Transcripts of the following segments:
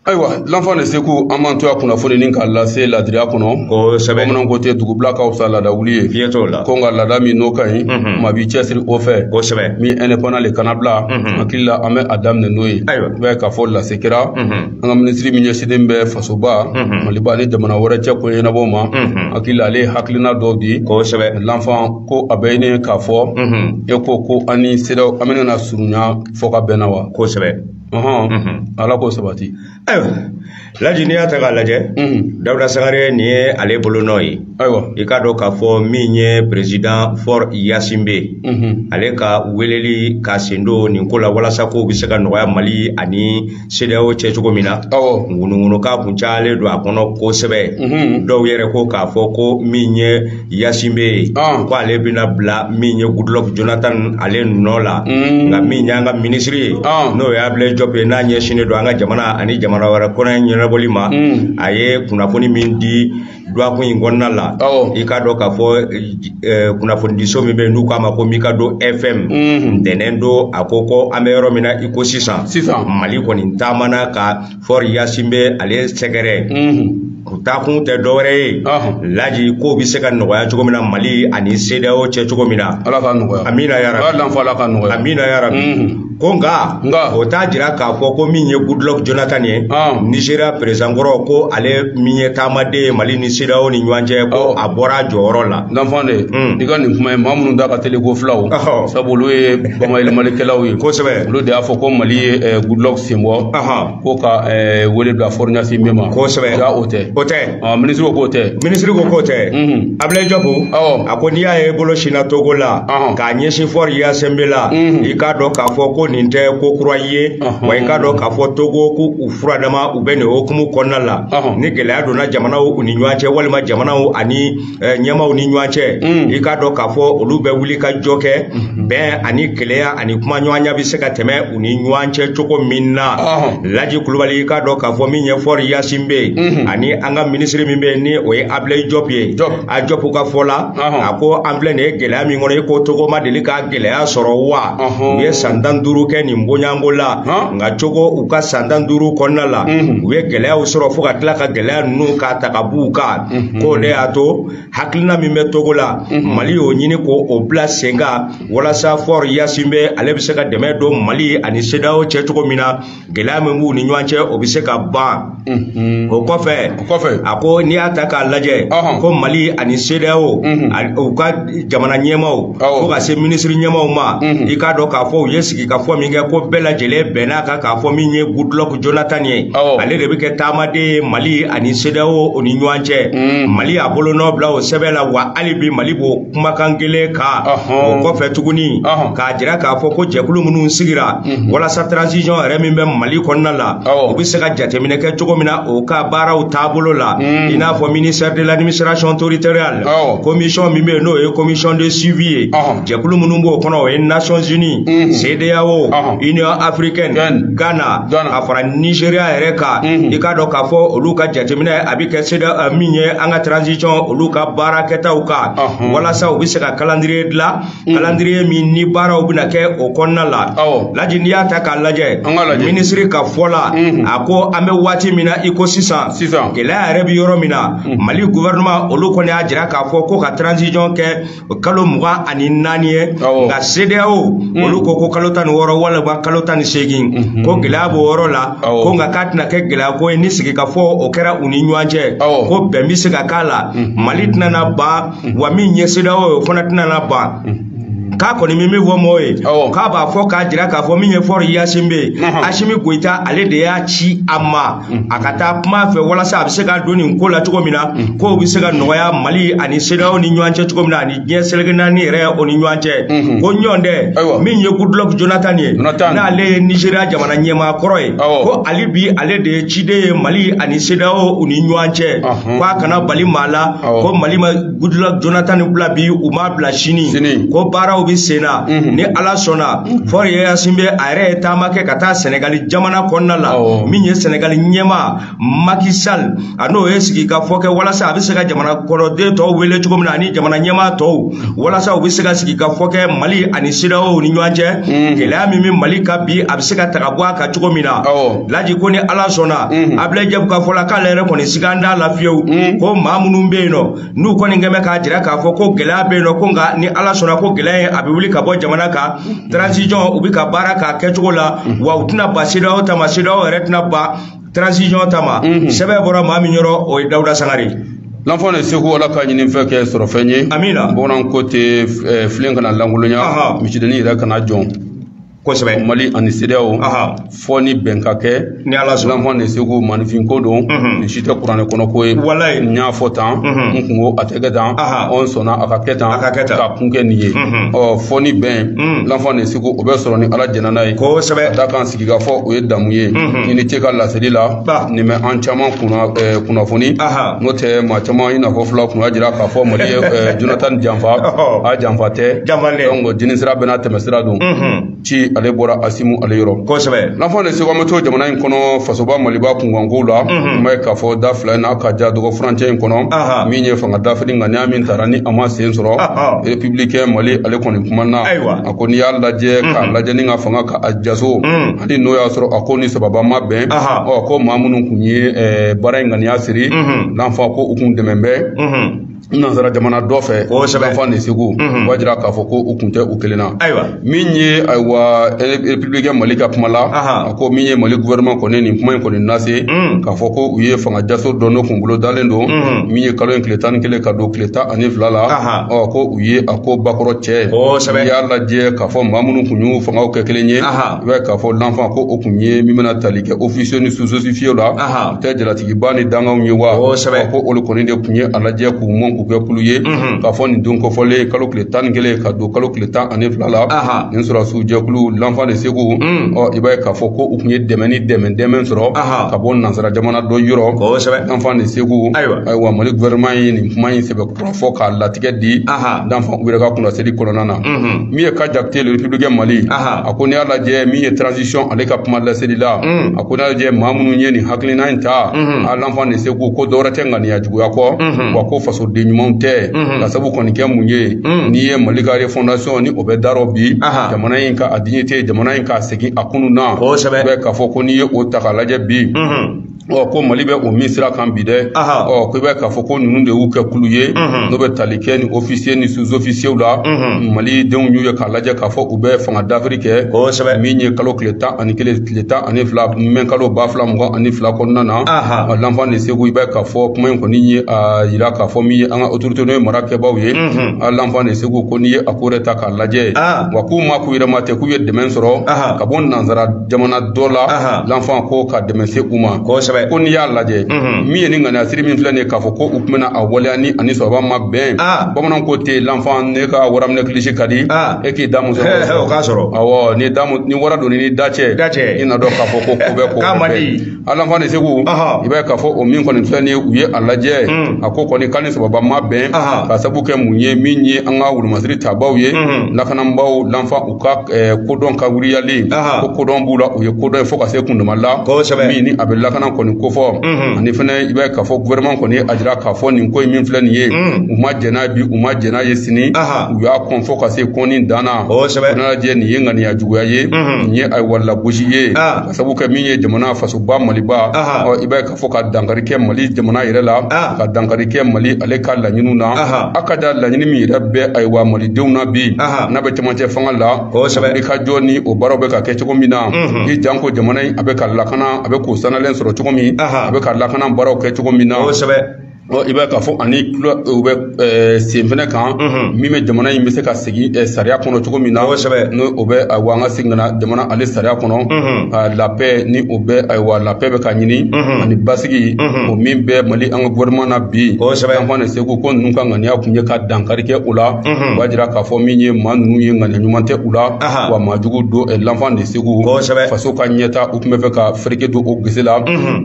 ayiwa l'enfant de sekou an b'an to a kunnafoni nin k'a lase ladiriya kɔnɔ kosɛbɛ bamananw ko ten dugubila ka fisa laada wuli ye fiɲɛ t'o la ko nka laada min n'o ka ɲi mhm. maa b'i cɛsiri o fɛ kosɛbɛ min indépendant le kana bila mhm. hakili la an bɛ a daminɛ n'o ye ayiwa i b'a ye k'a fɔ lase kɛra mhm. an ka minisiri min ɲɛsinnen bɛ fasoba maliba ni jamana wɛrɛ cɛ ko ɲɛnabɔ ma hakili la ale ye hakilina dɔw di kosɛbɛ l'enfant ko a bɛ ɲini k'a fɔ e ko ko an ni cedeao an bɛna na surunya fɔ ka bɛnna wa kosɛbɛ ala k'o sabati ayiwa laji n'i y'a ta k'a lajɛ dawuda sangare nin ye ale bolonɔ ye ayiwa i k'a dɔn k'a fɔ min ye président faure gnassingbé ale ka weleli k'a sen don nin ko la walasa ko bɛ se ka nɔgɔya mali ani cedeao cɛ cogo min na ŋunuŋunukan kun cayalen don a kɔnɔ kosɛbɛ dɔw yɛrɛ ko k'a fɔ ko min ye gnassingbé ye ah. ko ale bɛna bila min ye goodluck jonathan ale nɔ la mm. nka min y'an ka minisiri ye ah. n'o ye ablaye diop ye n'a ɲɛsinnen don an ka jamana ani jamana wɛrɛ kɔnɔ ɲɛnabɔli ma mm. a ye kunnafoni min di duwakun in kɔnɔna la i k'a dɔn k'a fɔ eh, kunnafonidiso min bɛ yen n'u k'a ma ko mikado fm mm. ntɛnɛn don a ko ko an bɛ yɔrɔ min na i ko sisan mali kɔni taamana ka faure gnassingbé ale sɛgɛrɛ u taakun tɛ dɔwɛrɛ ye laji ko bɛ se ka nɔgɔya cogo min na mali ani cedeao cɛ cogo min na ala ka nɔgɔya amina yarabi ala ka nɔgɔya amina yarabi ko nka o t'a jira k'a fɔ ko min ye goodluck jonathan ye nigeria président kɔrɔ ko ale min ye taamaden ye mali ni cedeao ni ɲɔgɔn cɛ ko a bɔra a jɔyɔrɔ la l'enfant de i ka nin kuma ye maa minnu da ka teli ko fɔ la sabu olu ye bamayɛlɛmalikɛlaw ye kosɛbɛ olu de y'a fɔ ko mali ye goodluck sen bɔ ko ka wele bila faure gnassingbé ma kosɛbɛ jaa o tɛ o tɛ minisiri ko k'o tɛ minisiri ko k'o tɛ ablaye diop a ko n'i y'a ye bolo sinna togo la k'a ɲɛsin faure gnassingbé la i k'a dɔn k'a fɔ ko nin tɛ ko kura ye wa i k'a dɔn k'a fɔ togo ko u furadama u bɛ nin hukumu kɔnɔna la ni gɛlɛya donna jamanaw u ni ɲɔgɔn cɛ walima jamanaw ani eh, ɲɛmaw ni ɲɔgɔn cɛ mm. i k'a dɔn k'a fɔ olu bɛ wuli ka jɔ kɛ mm-hmm. bɛn ani kelenya ani kumaɲɔgɔnya bɛ se ka tɛmɛ u ni ɲɔgɔn cɛ cogo min na laji kulubali i k'a dɔn k'a fɔ min ye faure gnassingbé ye mm-hmm. ani an ka minisiri min bɛ yen ni o ye ablaye diop ye a diop ka fɔ la a ko an filɛ nin ye gɛlɛya min kɔnɔ i ko togo ma deli ka gɛlɛya sɔrɔ wa u ye san tan duuru kɛ nin bonyanko la nka togo u ka san tan duuru kɔnɔna la mm-hmm. u ye gɛlɛyaw sɔrɔ fo ka tila ka gɛlɛya ninnu k'a ta ka b'u kan Mhm. k'o de y'a to hakilina min bɛ togo la mhm. mali y'o ɲini ko o bila sen kan walasa faure gnassingbé ale bɛ se ka dɛmɛ don mali ani cedeao cɛ cogo min na gɛlɛya min b'u ni ɲɔgɔn cɛ o bɛ se ka ban mhm. o kɔfɛ a ko n'i y'a ta k'a lajɛ ko mali ani cedeao u ka jamana ɲɛmaw fo ka se minisiri ɲɛmaw ma i k'a dɔn k'a fɔ u ye sigikafɔ min kɛ ko bɛɛ lajɛlen bɛnn'a kan k'a fɔ min ye goodluck Jonathan ye ale de bɛ kɛ taamaden ye Mali ani CEDEAO o ni ɲɔgɔn cɛ mm. Mali y'a bolonɔ bila o sɛbɛn la wa hali bi Mali b'o kumakan kelen kan o kɔfɛ tuguni k'a jira k'a fɔ ko jɛkulu minnu sigira mm-hmm. walasa transition yɛrɛ min bɛ Mali kɔnɔna la u bɛ se ka jateminɛ kɛ cogo min na o ka baaraw taabolo la mm. i n'a fɔ ministère de l'administration territoriale commission min bɛ yen n'o ye commission de suivi ye jɛkulu minnu b'o kɔnɔ o ye Nations Unies mm-hmm. CEDEAO Union africaine Ghana ka fara Nigeria yɛrɛ kan i k'a dɔn k'a fɔ olu ka jateminɛ a bɛ kɛ CEDEAO min ye an ka transition olu ka baara kɛtaw kan walasa u bɛ se ka calendrier dilan calendrier min ni baaraw bɛna kɛ o kɔnɔna la Laji n'i y'a ta k'a lajɛ minisiri ka fɔ la a ko an bɛ waati min na i ko sisan gɛlɛya yɛrɛ bɛ yɔrɔ min na Mali gouvernement olu kɔni y'a jira k'a fɔ ko ka transition kɛ o kalo mugan ani naani ye nka CEDEAO mm. olu ko ko kalo tan ni wɔɔrɔ walima kalo tan ni seegin mm-hmm. ko gɛlɛya b'o yɔrɔ la ko nka k'a tɛna kɛ gɛlɛya ko ye ni sigikafɔ o kɛra u ni ɲɔgɔn cɛ ko bɛn bɛ se ka k'a la mm-hmm. Mali tɛna na ban mm-hmm. wa min ye CEDEAO ye o fana tɛna na ban. k'a kɔni bɛ min fɔ mɔgɔw ye k'a b'a fɔ k'a jira k'a fɔ min ye Faure Gnassingbé ye Assimi Goïta ale de y'a ci a ma a ka taa kuma a fɛ walasa a bɛ se ka don nin ko la cogo min na kow bɛ se ka nɔgɔya mali ani CEDEAO ni ɲɔgɔn cɛ cogo min na ani diɲɛ seleke naani yɛrɛ o ni ɲɔgɔn cɛ ko n'o tɛ min ye goodluck jonathan ye n'ale ye nigeria jamana ɲɛmaa kɔrɔ ye ko hali bi ale de ye ciden ye mali ani CEDEAO u ni ɲɔgɔn cɛ k'a kana bali maa la ko mali ma Goodluck Jonathan bila bi u m'a bila sini Sini. ko baaraw bɛ sen na Mhm. ni Ala sɔnna Faure Gnassingbé a yɛrɛ ye taama kɛ ka taa Sɛnɛgali jamana kɔnɔna la Awɔ. min ye Sɛnɛgali ɲɛmaa Macky Sall a n'o ye sigi ka fɔ kɛ walasa a bɛ se ka jamana kɔnɔden tɔw wele cogo min na ani jamana ɲɛmaa tɔw walasa u bɛ se ka sigi ka fɔ kɛ Mali ani CEDEAO ni ɲɔgɔn cɛ Mhm. gɛlɛya min bɛ Mali kan bi a bɛ se ka ta ka bɔ a kan cogo min na Awɔ. laji ko ni ala sɔnna mhm. Ablaye Diop ka fɔ la k'ale yɛrɛ kɔni sigan t'a la fiyewu mhm. ko maa minnu bɛ yen nɔ n'u kɔni kɛmɛ k'a jira k'a fɔ ko gɛlɛya bɛ yen nɔ ko nka ni ala sɔnna ko gɛlɛya ye a bɛ wuli ka bɔ jamana kan mhm. transition u bɛ ka baara k'a kɛcogo la wa u tɛna ban CEDEAO ta ma CEDEAO yɛrɛ tɛna ban transition ta ma sɛbɛn bɔra maa min yɔrɔ o ye Daouda Sangaré l'enfant de Ségou ala ka ɲinifɛn kɛ sɔrɔfɛn ye amina bɔnna ko tɛ eh, filen kana lankolonya misidennin yɛrɛ kana jɔn kosɛbɛ mali ani CEDEAO fɔ ni bɛn ka kɛ ni ala sɔnna l'enfant de Ségou maaninfin ko don mhm. nin si tɛ kuranɛ kɔnɔ ko ye walayi n y'a fɔ tan mhm. n kun ko a tɛ kɛ tan ɔ n sɔnna a ka kɛ tan a ka kɛ tan ka kun kɛ nin ye mhm. ɔ fɔ ni bɛn l'enfant de Ségou o bɛ sɔrɔ ni ala jɛnna n'a ye kosɛbɛ ka da kan sigikafɔ o ye damu ye i ni ce ka laseli la ba nin bɛ an caman kunna kunnafoni n'o tɛ maa caman in n'a fɔ fila kunna jira k'a fɔ mali ye jonathan janfa a janfa tɛ donc jini sira bɛna tɛmɛ sira don ci ale bɔra asimu ale yɔrɔ kosɛbɛ lanfan de segu an bɛ to jamana in kɔnɔ fasoba maliba kunkankow la i b'a ye k'a fɔ da fila in n'a ka ja dɔgɔ furancɛ in kɔnɔ min ye fanga dafiri ŋaniya min tara ni a ma sen sɔrɔ republikɛn mali ale kɔni kumana a ko n'i y'a lajɛ k'a lajɛ ni ka fanga ka a jaso ani n'o y'a sɔrɔ a ko ni sababa ma bɛn ɔ ko maa minnu kun ye baara in ŋaniya siri lanfan ko u kun dɛmɛ bɛ nansara jamana dɔ fɛ lanfan de segu b'a jira k'a fɔ ko u kun tɛ u kelen na min ye ayiwa republikɛn mali ka kuma la a ko min ye mali gouvernement kɔni nin kuma in kɔni lase k'a fɔ ko u ye fanga jaso dɔ n'o kun bolodalen don min ye kalo in tile tan ni kelen ka don tile tan ani fila la u ye a ko bakɔrɔ cɛ ye kosɛbɛ n'i y'a lajɛ k'a fɔ maa minnu kun y'u fangaw kɛ kelen ye i b'a ye k'a fɔ lanfan ko o kun ye min bɛna tali kɛ ofisiye ni suzofisiyew la u tɛ jalatigiba ni dankanw ye wa kosɛbɛ ko olu kɔni de kun ye a lajɛ k'u mɔn k'u kɛ kulu ye k'a fɔ nin don kɔfɔlen kalo tile tan ni kelen ka don kalo tile tan ani fila la nin sɔrɔdasiw jɛkulu lanfan de segu ɔ i b'a ye k'a fɔ ko u kun ye dɛmɛ ni dɛmɛ dɛmɛ sɔrɔ ka bɔ nansara jamana dɔ yɔrɔ kosɛbɛ lanfan de segu ayiwa mali gouvernement ye nin kuma in sɛbɛn fɔ k'a latigɛ di lanfan u yɛrɛ ka kuma laseli kɔnɔna na min ye ka jakite le republikɛn mali a ko n'i y'a lajɛ min ye transition ale ka kuma laseli la a ko n'i y'a lajɛ maa minnu ye nin hakilina in ta a lanfan de segu ko dɔwɛrɛ tɛ ŋaniya juguya kɔ wa ko fasoden ɲumanw tɛ k'a sabu kɔni kɛ mun ye n'i ye mali ka refondation ni o bɛ darɔ bi jamana in ka a dignité jamana in ka segin a kunu na bɛ k'a fɔ ko n'i ye o ta k'a lajɛ bi ɔ ko mali bɛ o min sira kan bi dɛ ɔ ko i b'a k'a fɔ ko ninnu de y'u kɛ kulu ye n'o bɛ tali kɛ ni ofisiye ni suzofisiyew la mali denw y'u ye k'a lajɛ k'a fɔ u bɛ fanga dafiri kɛ kosɛbɛ min ye kalo tile tan ani kelen tile tan ani fila mɛ kalo ba fila mugan ani fila kɔnɔna na ɔ lanfan de segu i b'a k'a fɔ kuma in kɔni ye a yira k'a fɔ min ye an ka otorite n'o ye marakɛbaaw ye a lanfan de segu ko n'i ye a ko yɛrɛ ta k'a lajɛ wa k'u ma k'u yɛrɛ ma tɛ k'u ye dɛmɛ sɔrɔ ka bɔ nansara jamana dɔ la lanfan ko ka dɛmɛ se u ma kosɛbɛ ko n'i y'a lajɛ min ye nin ŋaniya siri min filɛ nin ye k'a fɔ ko u kun bɛna a waleya ni a ni sɔrɔba ma bɛn bamanan ko ten lanfan n'i ka waraminɛ kilisi ka di e k'i da muso o k'a sɔrɔ awɔ ni da ni wara donni ni da cɛ i na dɔn k'a fɔ ko ko bɛ ko k'a man di a lanfan de segu i b'a ye k'a fɔ o min kɔni filɛ nin ye u ye a lajɛ hmm. a ko kɔni k'a ni sababa ma bɛn k'a sabu kɛ mun ye min ye an ka wulumasiri tabaw ye hmm. lakanabaw lanfan u ka eh, kodɔn ka wuriyali ko kodɔn b'u la u ye kodɔn ye fo ka se kundama la min ni a bɛ lakana kɔni kofɔ hmm. ani fɛnɛ i b'a ye k'a fɔ gouvernement kɔni ye a jira k'a fɔ nin ko in min filɛ nin ye u ma jɛn n'a ye bi u ma jɛn n'a ye sini u y'a kɔn fo ka se kɔnni dan na o nana lajɛ nin ye ŋaniya juguya ye nin ye ayiwa lagosi ye ka sabu kɛ min ye jamana fasoba maliba i b'a ye k'a fɔ ka dankari kɛ mali jamana yɛrɛ la ka dankari kɛ mali ale ka laɲiniw na a ka da laɲini min yɛrɛ bɛ ayiwa malidenw na bi n'a bɛ camancɛ fanga la kosɛbɛ i ka jɔ ni o baaraw bɛ ka kɛ cogo min na i janko jamana in a bɛ ka lakana a bɛ k'o sanalen sɔrɔ cogo min a bɛ ka lakana baaraw kɛ cogo min na i b'a ye k'a fɔ ani tulo u bɛ ɛɛ sen fɛnɛ kan min bɛ jamana in bɛ se ka segin ɛɛ sariya kɔnɔ cogo min na kosɛbɛ n'o o bɛ ayiwa an ka segin ka na jamana ale sariya kɔnɔ a la paix ni o bɛ ayiwa la paix bɛ ka ɲini ani basigi o min bɛ mali an ka gouvernement na bi kosɛbɛ l'enfant de segu ko ninnu ka ŋaniya kun ye ka dankari kɛ o la o b'a jira k'a fɔ min ye maa ninnu ye ŋaniya ɲuman tɛ u la wa maa jugu don ɛɛ l'enfant de segu kosɛbɛ faso ka ɲɛta u tun b'a fɛ ka fereke don o gese la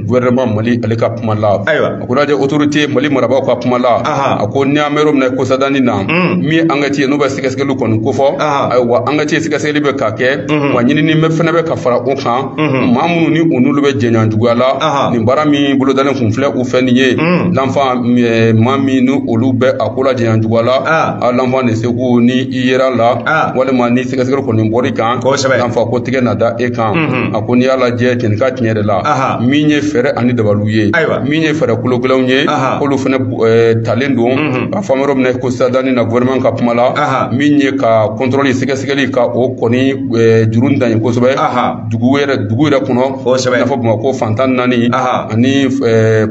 gouvernement mali ale ka kuma la ayiwa A ko lajɛ autorité Mali marabaaw ka kuma la, anhan, a ko ni an bɛ yɔrɔ min na ko sadani na, un, min ye enquête ye n'u bɛ sɛgɛsɛgɛli kɔni kofɔ, anhan, ayiwa enquête sɛgɛsɛgɛli bɛ ka kɛ, unhun, wa ɲinini fɛnɛ bɛ ka fara o kan, unhun, maa minnu ni u n'olu bɛ jɛɲɔgɔn juguya la, anhan, nin baara min bolodalen kun filɛ u fɛ nin ye, un, L'enfant ɛɛ maa min ni olu bɛ a ko la jɛɲɔgɔn juguya la, an, a L'enfant de Segu ni i yera a la, an, walima ni sɛgɛsɛgɛli kɔni bɔr'i kan, kosɛbɛ, L'enfant ko tɛgɛ na da e kan, unhun, a ko n'i y'a lajɛ cɛnin ka tiɲɛ yɛrɛ la, anhan, min ye fɛɛrɛ ani dabaliw u ye ayiwa min ye fɛɛrɛ kologɛlɛnw ye k'olu fɛnɛ talen don n'a fɔ an bɛ yɔrɔ min na ko sadani na gouvernement ka kuma la min ye ka contrôle sɛgɛsɛgɛli ka o kɔni juru dan ye kosɛbɛ dugu yɛrɛ dugu yɛrɛ kɔnɔ i n'a fɔ bamakɔ fan tan ni naani ani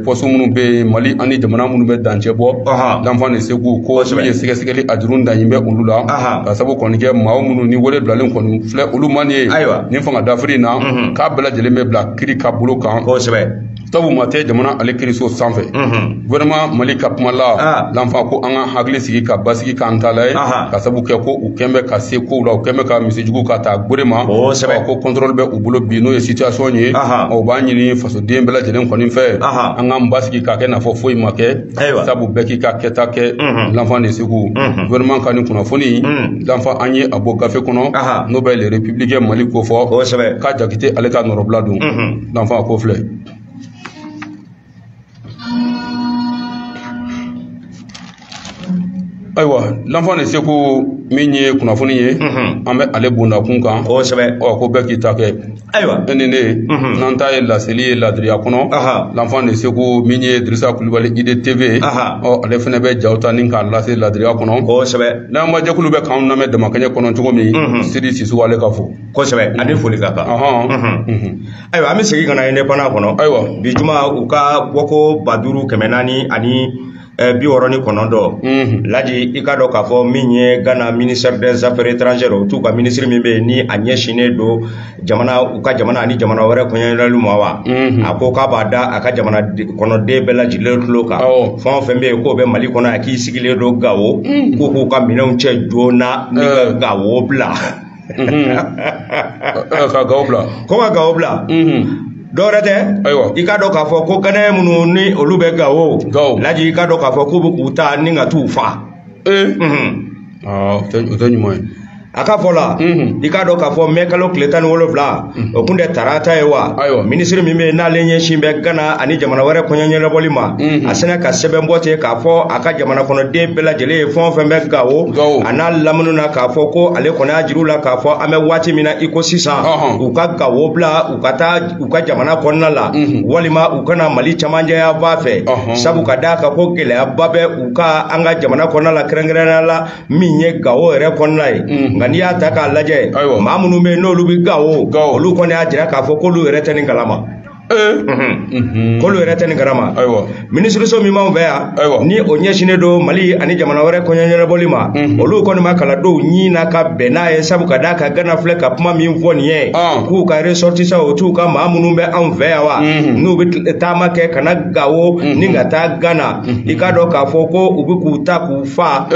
poste minnu bɛ yen mali ani jamana minnu bɛ dancɛ bɔ l'enfant de segu ko min ye sɛgɛsɛgɛli a juru dan bɛ olu la ka sabu kɔni kɛ maa minnu ni wele bilalen kɔni filɛ olu ma nin ye ayiwa nin fanga dafiri in na k'a bɛɛ lajɛlen bɛ bila kiri ka bolo kan kosɛbɛ sabu maa tɛ jamana ale kiriso sanfɛ gouvernement mhm. mali ka kuma la ah. l'enfant ko an ka hakili sigi ka basigi k'an ta la ye ka sabu kɛ ko u kɛn bɛ ka se kow la u kɛn bɛ ka misijugu ka taa gwɛrɛ ma ko contrôle bɛ u bolo bi n'o ye situation ye o b'a ɲini fasoden bɛɛ lajɛlen kɔni fɛ an k'an basigi k'a kɛ n'a fɔ foyi ma kɛ Ayiwa. sabu bɛɛ k'i ka kɛta kɛ Mhm. l'enfant de segu Mhm. gouvernement ka nin kunnafoni Mhm. l'enfant an ye a bɔ gafe kɔnɔ Aha. n'o bɛ le républicain mali kofɔ kosɛbɛ K. jakite ale ka nɔrɔbila don Mhm. l'enfant a ko filɛ ayiwa l'enfant de segu min ye kunnafoni ye an bɛ ale bondakun kan kosɛbɛ ɔ ko bɛɛ k'i ta kɛ ayiwa e ni ne n'an ta ye laseli ye ladiriya kɔnɔ l'enfant de segu min ye dirisa kulubali ID tv ɔ ale fɛnɛ bɛ jaw ta ni k'a lase ladiriya kɔnɔ kosɛbɛ lamɛnbaa jɛkulu bɛ k'an lamɛn damakɛɲɛ kɔnɔ cogo min sidi sisoko ale ka fo kosɛbɛ ani foli ka kan ayiwa an bɛ segin ka na indépendant kɔnɔ ayiwa bi juma u ka bɔko ba duuru kɛmɛ naani ani eh, bi wɔɔrɔ ni kɔnɔntɔn mhm. laji i k'a dɔn k'a fɔ min ye ghana ministère des affaires étrangères o t'u ka minisiri min bɛ yen ni a ɲɛsinnen don jamana u ka jamana ani jamana wɛrɛ kɔɲɔɲɛnabɔli ma wa mhm. a ko k'a b'a da a ka jamana kɔnɔden bɛɛ lajɛlen tulo kan fɛn o fɛn bɛ yen k'o bɛ mali kɔnɔ yan k'i sigilen don gawo mhm. k'u k'u ka minɛnw cɛ joona ni ka gawo bila ka gawo bila ko ka gawo bila dɔwɛrɛ tɛ ayiwa i k'a dɔn k'a fɔ ko ganaye minnu ni olu bɛ gawo gawo laji i k'a dɔn k'a fɔ k'u bɛ k'u ta ni ka t'u fa ee o tɛ ɲuman ye a ka fɔ la i k'a dɔn k'a fɔ mɛ kalo tile tan ni wolonwula o kun tɛ tarata ye wa Ayiwa. minisiri min bɛ yen n'ale ɲɛsin bɛ gana ani jamana wɛrɛ kɔɲɔ ɲɛnabɔli ma a sinna ka sɛbɛn bɔ ten k'a fɔ a ka jamana kɔnɔden bɛɛ lajɛlen ye fɛn o fɛn bɛ gawo Gawo. a n'a lamini na k'a fɔ ko ale kɔni y'a jir'u la k'a fɔ an bɛ waati min na i ko sisan Ɔhɔn. u ka gawo bila u ka taa u ka jamana kɔnɔna la walima u ka na mali cɛmancɛ yanfan fɛ Ɔhɔn. sabu ka d'a kan ko gɛlɛyaba bɛ u kan an ka jamana kɔnɔna la kɛrɛnkɛrɛnnenya la min ye gawo yɛrɛ kɔnɔna ye mm. nka n'i y'a ta k'a lajɛ maa minnu bɛ yen n'olu bɛ gawo olu kɔni y'a jira k'a fɔ k'olu yɛrɛ tɛ nin kalama eh. mhm. mhm. k'olu yɛrɛ tɛ nin kalama minisiriso min b'anw fɛ yan ni o ɲɛsinnen don mali ani jamana wɛrɛ kɔɲɔɲɛnabɔli ma mhm. olu kɔni ma kala dɔw ɲin na ka bɛn n'a ye sabu ka d'a kan gana filɛ ka kuma min fɔ nin ye ah. k'u ka ressortissants o t'u ka maa minnu bɛ anw fɛ yan wa n'u bɛ taama kɛ ka na gawo ni ka taa gana i k'a dɔn k'a fɔ ko u bɛ k'u ta k'u fa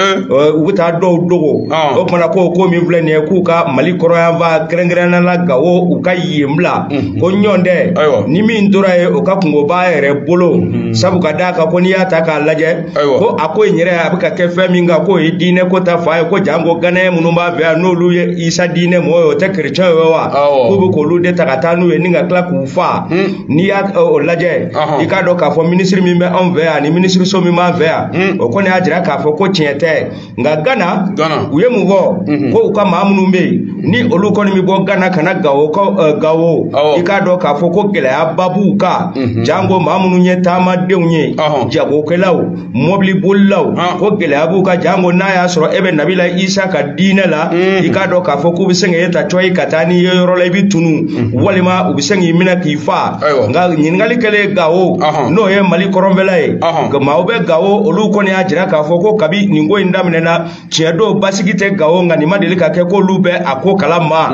u bɛ taa dɔw dogo o kumana ko ko min filɛ nin ye k'u ka mali kɔrɔnyanfan kɛrɛnkɛrɛnnenya la gawo u ka yen bila ko nɔntɛ ni min tora yen o ka kunko b'a yɛrɛ bolo sabu ka d'a kan ko n'i y'a ta k'a lajɛ ko a ko in yɛrɛ a bɛ ka kɛ fɛn min kan k'o ye diinɛ ko ta fan ye ko janko ganaye minnu b'an fɛ yan n'olu ye isa diinɛ mɔgɔ ye o tɛ kerecɛn ye wa k'u bɛ k'olu de ta ka taa n'u ye ni ka tila k'u fa n'i y'a ɛ, o lajɛ Ɔhɔn. i k'a dɔn k'a fɔ minisiri min bɛ anw fɛ yan ani minisiriso min b'an fɛ yan Mm. o kɔni y'a jira k'a fɔ ko tiɲɛ tɛ nka gana Ghana. u ye mun fɔ Mhm. ko u ka maa minnu bɛ yen ni olu kɔni bɛ bɔ gana ka na gawo ka ɛ, gawo Awɔ. i k'a dɔn k'a fɔ ko gɛlɛyaba b'u kan Mhm. janko maa minnu ye taamadenw ye Ɔhɔn. jagokɛlaw mɔbili bolilaw ko gɛlɛya b'u kan janko n'a y'a sɔrɔ e bɛ nabila isa ka diinɛ la i k'a dɔn k'a fɔ k'u bɛ se k'e ta cɔyi ka taa n'i ye yɔrɔ la i bɛ tunu walima u bɛ se k'i minɛ k'i fa nka ɲininkali kɛlen gawo n'o ye mali kɔrɔnfɛla ye maaw bɛ gawo olu kɔni y'a jira k'a fɔ ko kabi nin ko in daminɛna tiɲɛ don basigi tɛ gawo nka nin ma deli ka kɛ k'olu bɛ a ko kalama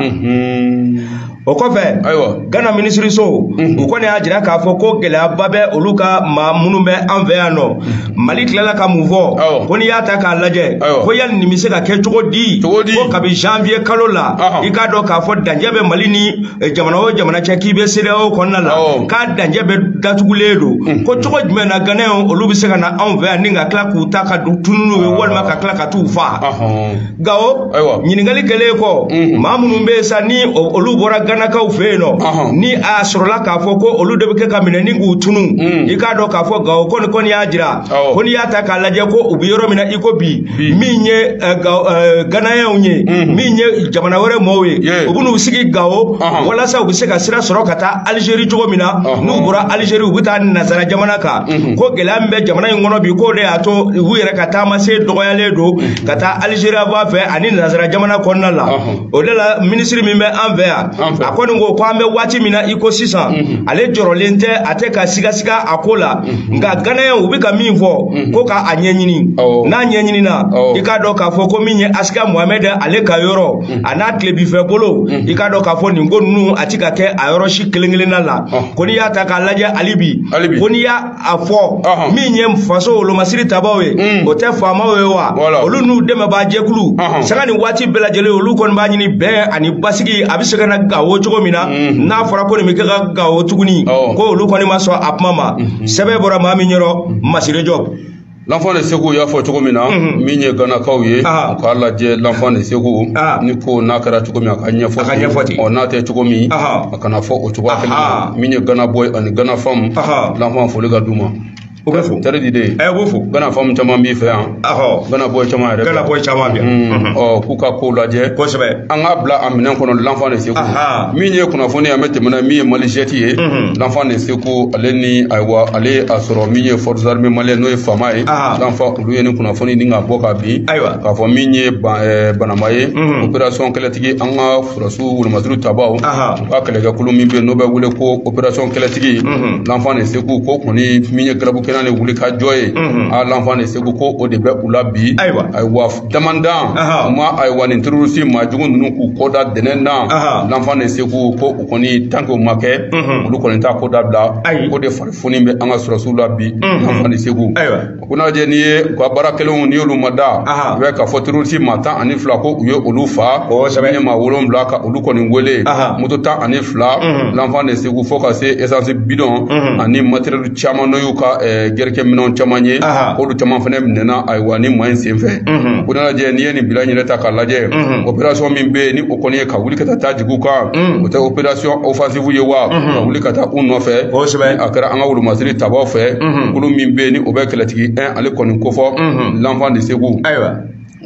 o kɔfɛ gana minisiriso u kɔni y'a jira k'a fɔ ko gɛlɛyaba bɛ olu ka maa minnu bɛ an fɛ yan nɔ mali tilala ka mun fɔ ko n'i y'a ta k'a lajɛ ko yali nin bɛ se ka kɛ cogo di ko kabi janvier kalo la i k'a dɔn k'a fɔ dancɛ bɛ mali ni jamana o jamana cɛ k'i bɛ CEDEAO kɔnɔna la k'a dancɛ bɛ datugulen don ko cogo jumɛn na Ganayɛnw olu bɛ se ka na anw fɛ yan ni ka tila k'u ta ka tunun n'u ye walima ka tila ka t'u faa Gawo ɲininkali kɛlen kɔ maa minnu bɛ yen sa ni olu bɔra Ganakaw fɛ yen nɔ ni a sɔrɔla k'a fɔ ko olu de bɛ kɛ ka minɛ ni k'u tunun i k'a dɔn k'a fɔ Gawo ko nin kɔni y'a jira ko n'i y'a ta k'a lajɛ ko u bɛ yɔrɔ min na i ko bi min ye eh, eh, ganayɛnw ye mhm. min ye jamana wɛrɛ mɔɔw ye u bɛ n'u sigi gawo walasa u bɛ se ka sira sɔrɔ ka taa alizeri cogo min na n'u bɔra alizeri u bɛ taa nazara jamana kan mhm. ko gɛlɛya min bɛ jamana in kɔnɔ bi k'o de y'a to u yɛrɛ ka taama se dɔgɔyalen don mhm. ka taa alizeri b'a fɛ ani nazara jamana kɔnɔna la o de la minisiri min bɛ an fɛ yan a kɔni ko ko an bɛ waati min na i ko sisan ale jɔrɔlen tɛ a tɛ ka sigasiga a ko la nka ganayɛn u bɛ ka min fɔ ko ka a ɲɛɲini n'a ɲɛɲinina i k'a dɔn k'a fɔ ko min ye asikiya muhamɛd ale ka yɔrɔ a n'a tilebifɛ bolo i k'a dɔn k'a fɔ nin ko ninnu a ti ka kɛ a yɔrɔ si kelen kelenna la ko n'i y'a ta k'a lajɛ hali bi ko n'i y'a a fɔ min ye faso wolomasiri tabaw ye o tɛ faamaw ye wa olu n'u dɛmɛbaa jɛkulu sanga ni waati bɛɛ lajɛlen olu kɔni b'a ɲini bɛn ani basigi a bɛ se ka na gawo cogo min na n'a fɔra ko nin bɛ kɛ ka gawo tuguni ko olu kɔni ma sɔn a kuma ma sɛbɛn bɔra maa min yɔrɔ masire jɔb lanfan de segu y'a fɔ cogo min na min ye ganakaw ye u k'a lajɛ lanfan de segu nin ko n'a kɛra cogo min a ka ɲɛfɔ ten n'a tɛ cogo min a kana fɔ o cogoya kelen min ye gana bɔyi ani gana famu lanfan foli ka d'u ma o bɛ fo tari di de ye ɛ b'o fo gana famu caman b'i fɛ yan ahɔ gana bɔyi caman yɛrɛ gana bɔyi caman bɛ yan ɔ k'u ka kow lajɛ kosɛbɛ an k'a bila a minɛn kɔnɔ lanfan de segu min ye kunnafoni an bɛ tɛmɛ na min ye mali jɛti ye lanfan de segu ale ni ayiwa ale y'a sɔrɔ min ye fɔrisi arime maliyɛni n'o ye fama ye lanfan olu ye ni kunnafoni ni ka bɔ ka bin k'a fɔ min ye banama ye operasɔn kɛlɛtigi an ka sɔrɔsiw wolomasiri tabaw u ka kɛlɛkɛkulu min bɛ yen n'o bɛ wele ko operasɔn kɛlɛtigi lanfan de segu ko kɔni min ye garabu kɛnɛ de wuli ka jɔ ye a lanfan de segu ko o de bɛ u la bi ayiwa damandan u ma ayiwa nin terorisi maa jugu ninnu k'u kɔ da dɛnɛn na lanfan de segu ko u kɔni tanke o ma kɛ olu kɔni t'a ko dabila o de farifoni bɛ an ka sɔrɔsiw la bi lanfan de segu ayiwa ko n'a lajɛ n'i ye u ka baara kɛlenw n'i y'olu ma da i bɛ k'a fɔ terorisi maa tan ani fila ko u ye olu faa sa min ye maa wolonwula ka olu kɔni wele moto tan ani fila mhm. lanfan de segu fo ka se esansi bidɔn mhm. ani materiyɛli caman n'o y'u ka eh, kɛlɛkɛ minɛnw caman ye k'olu caman fana minɛna ayiwa ni maa in sen fɛ mhm. ko n'a lajɛ n'i ye nin bilan yɛrɛ ta k'a lajɛ operasɔn min bɛ yen ni o kɔni ye ka wuli ka taa jigin u kan o tɛ operasɔn ofansi segu ye wa ka wuli ka taa u nɔfɛ kosɛbɛ a kɛra an ka wolomasiri tabaw fɛ kulu min bɛ yen ni o bɛ kɛlɛtigi 1 ale kɔni kofɔ l'enfant de Ségou ayiwa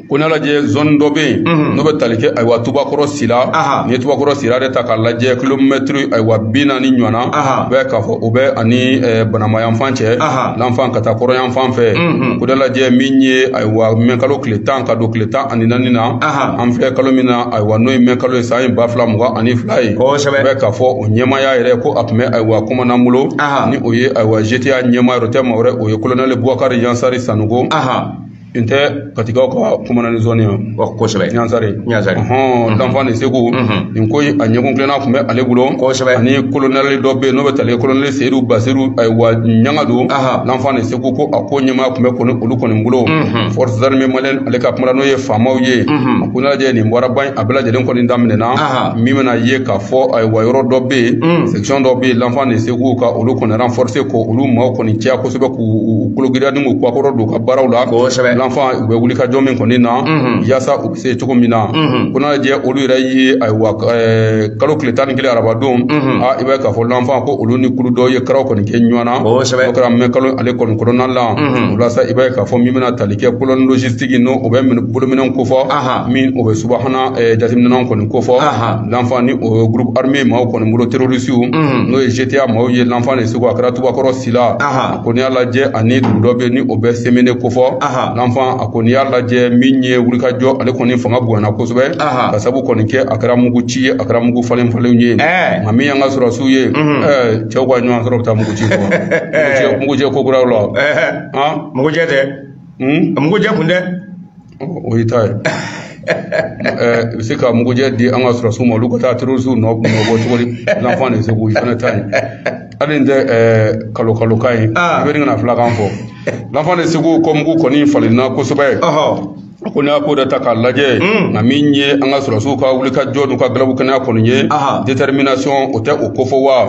ko n'a lajɛ zone dɔ bɛ yen n'o bɛ tali kɛ ayiwa tubakɔrɔ sira n'i ye tubakɔrɔ sira de ta k'a lajɛ kilomɛtiri ayiwa bi naani ɲɔgɔnna u bɛ k'a fɔ o bɛ ani banama yanfan cɛ l'enfant ka taa kɔrɔ yanfan fɛ ko n'a lajɛ min ye ayiwa mɛ kalo tile tan ka don tile tan ani naani na an filɛ kalo min na ayiwa n'o ye mɛ kalo ye san ye ba fila mugan ani fila ye kosɛbɛ u bɛ k'a fɔ o ɲɛmaaya yɛrɛ ko a tun bɛ ayiwa commandant bolo ni o ye ayiwa GTIA ɲɛmaa yɛrɛ tɛ maa wɛrɛ o ye kolonɛli bubakari yansari sanɔgɔ n tɛ katikaw ka commandant zone ye kosɛbɛ ɲansari ɲansari hɔn l'enfant de Ségou nin ko a ɲɛkun tilenna tun bɛ ale bolo kosɛbɛ ani kolonɛli dɔ bɛ yen n'o bɛ tali kolonɛli seyidu basiru ayiwa ɲangado l'enfant de u ko ko a ko ɲɛmaaya tun bɛ kɔni olu kɔni bolo forces armées maliennes ale ka kuma la n'o ye faamaw ye a ko n'a lajɛ nin baaraba a bɛɛ lajɛlen kɔni daminɛna min bɛna ye k'a fɔ ayiwa yɔrɔ dɔ bɛ yen section dɔ bɛ yen l'enfant de Ségou ka olu kɔni renforcer ko olu maaw kɔni caya kosɛbɛ k'u kologirinya ni k'u kuwakɔrɔ don u ka baaraw la l'enfant u bɛ wulikajɔ min kɔni na yaasa u se cogo min na ko n'a lajɛ olu yɛrɛ ye ayiwa kalo tile tan ni kelen arabadon a i b'a ye k'a fɔ l'enfant ko olu ni kulu dɔw ye karaw kɔni kɛ ɲɔgɔn na o kɛra mɛ kalo ale kɔni kɔnɔna la o la sa i b'a ye k'a fɔ min bɛna tali kɛ colonne logistique n'o o bɛ bolominɛnw kofɔ min o bɛ subahana jateminɛw kɔni kofɔ l'enfant ni o ye groupe armé maaw kɔni bolo terrorisiw n'o ye GTA maaw ye l'enfant de Ségou a kɛra tubakɔrɔ sila a kɔni y'a lajɛ ani dugu dɔ bɛ yen ni o bɛ semene kofɔ l'enfant a kɔni y'a lajɛ min ye wulikajɔ ale kɔni fanga bonyana kosɛbɛ ka sabu kɔni kɛ a kɛra mugu ci ye a kɛra mugu falen falenw ye nka min y'an ka sɔrɔsiw ye cɛw ka ɲɔgɔn sɔrɔ bɛ taa mugu ci kɔ mugujɛ ko kuraw la mugujɛ tɛ mugujɛ kun dɛ o y'i ta ye i bɛ se ka mugujɛ di an ka sɔrɔsiw ma olu ka taa terorisiw nɔ bɔ cogo di l'enfant de Ségou i fana ta ye hali n tɛ kalo kalo kan ye i bɛ nin kana filakan fɔ l'enfant de Ségou ko mugu kɔni falenna kosɛbɛ ko n'a ko da ta k'a lajɛ nka min ye an ka sɔrɔsiw ka wuli ka jɔ n'u ka galabu kɛnɛya kɔni ye détermination o tɛ o kofɔ wa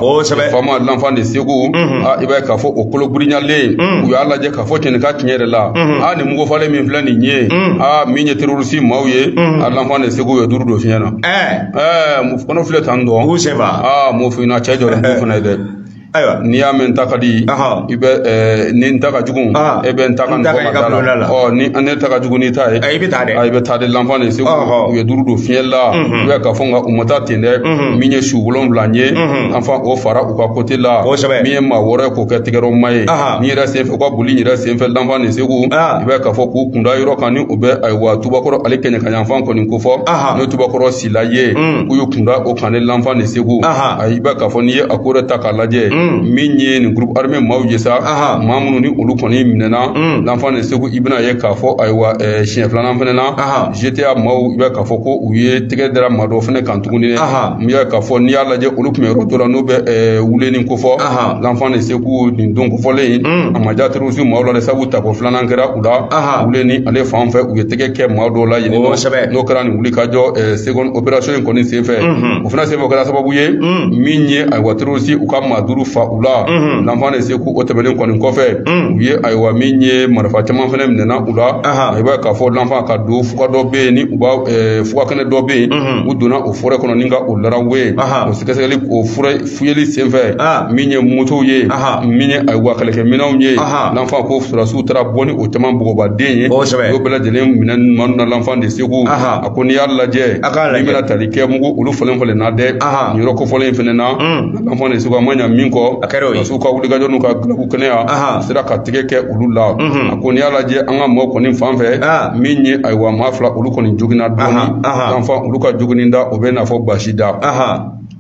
faama l'enfant de Ségou i b'a ye k'a fɔ o kolo girinyalen u y'a lajɛ ka a fɔ cɛnni ka tiɲɛ yɛrɛ la a nin mugu falen min filɛ nin ye a min ye terorisi maaw ye a l'enfant de Ségou ye duuru don fiɲɛ na ɛɛ mu fana filɛ tan dɔn k'u sɛba aa mu fina cɛ jɔra mu fana ye dɛ ayiwa n'i y'a mɛn n ta ka di i bɛ ni n ta ka jugu e bɛ n ta ka nɔgɔ ka da la ɔ ni ne ta ka jugu n'i ta ye i bɛ taa dɛ i bɛ taa de l'enfant de Ségou u ye duuru don fiɲɛ la u bɛ k'a fɔ nka u ma taa ten dɛ min ye su wolonwula ye l'enfant o fara u ka côté la min ye maa wɔɔrɔ ye o kɛ tigɛrɔ maa ye ni yɛrɛ senfɛ u ka boli yɛrɛ senfɛ l'enfant de Ségou i b'a ka fɔ k'u kunda yɔrɔ kan ni o bɛ ayiwa tubakɔrɔ ale kɛɲɛka yanfan kɔni kofɔ n'o tubakɔrɔ sila ye k'u y'u kunda o kan ne l'enfant de Ségou i b'a ka fɔ n'i ye a kɔrɔta k'a lajɛ min ye nin groupe armé maaw ye sa maa minnu ni olu kɔni minɛna l'enfant de Ségou i bɛna ye k'a fɔ ayiwa siɲɛ filanan fana na GTIA maaw i b'a ka fɔ ko u ye tɛgɛ dara maa dɔ fana kan tuguni n'i y'a k'a fɔ n'i y'a lajɛ olu tun bɛ yɔrɔ dɔ la n'o bɛ eh, wuleni kofɔ l'enfant de Ségou nin don kofɔlen in mm. a ma diya terisi maaw la dɛ sabu tako filanan kɛra u la wuleni ale fan fɛ u ye tɛgɛ kɛ maa dɔw la yen oh, n'o kɛra nin wuli ka jɔ eh, seconde opération in kɔni senfɛ mm-hmm. o fana senfɛ o kɛra sababu ye mm. min ye ayiwa terisiw ka maa duuru fa u la mm-hmm. l'enfant de Ségou o tɛmɛnen kɔni kɔfɛ mm. u ye ayiwa min ye marifa caman fana minɛna u la i b'a ye k'a fɔ l'enfant ka don fuga dɔ bɛ yen ni u b'a eh, fuga kɛnɛ dɔ bɛ yen mm-hmm. u donna o forêt kɔnɔ ni ka o larawe ye o sɛgɛsɛgɛli o forêt fuyeli senfɛ min ye motow ye min ye ayiwa kɛlɛkɛminɛnw ye l'enfant ko sɔrɔdasiw taara bɔ ni o caman bɔgɔbaden ye o bɛɛ lajɛlen minɛna maa ninnu na l'enfant de Ségou a ko n'i y'a lajɛ n'i bɛna tali kɛ mugu olu falen falen na dɛ nin yɔrɔ kofɔlen in fana na L'enfant de Ségou a ma ɲɛ min kɔ sɔrɔsiw ka wulikajɔ n'u ka galabukɛnɛya sera ka tigɛ kɛ olu la a ko n' y'a lajɛ an ka mɔgɔ kɔni fan fɛ min ye ayiwa maa fila olu kɔni joginna dɔɔni l'enfant olu ka joginda o bɛna fɔ basi t'a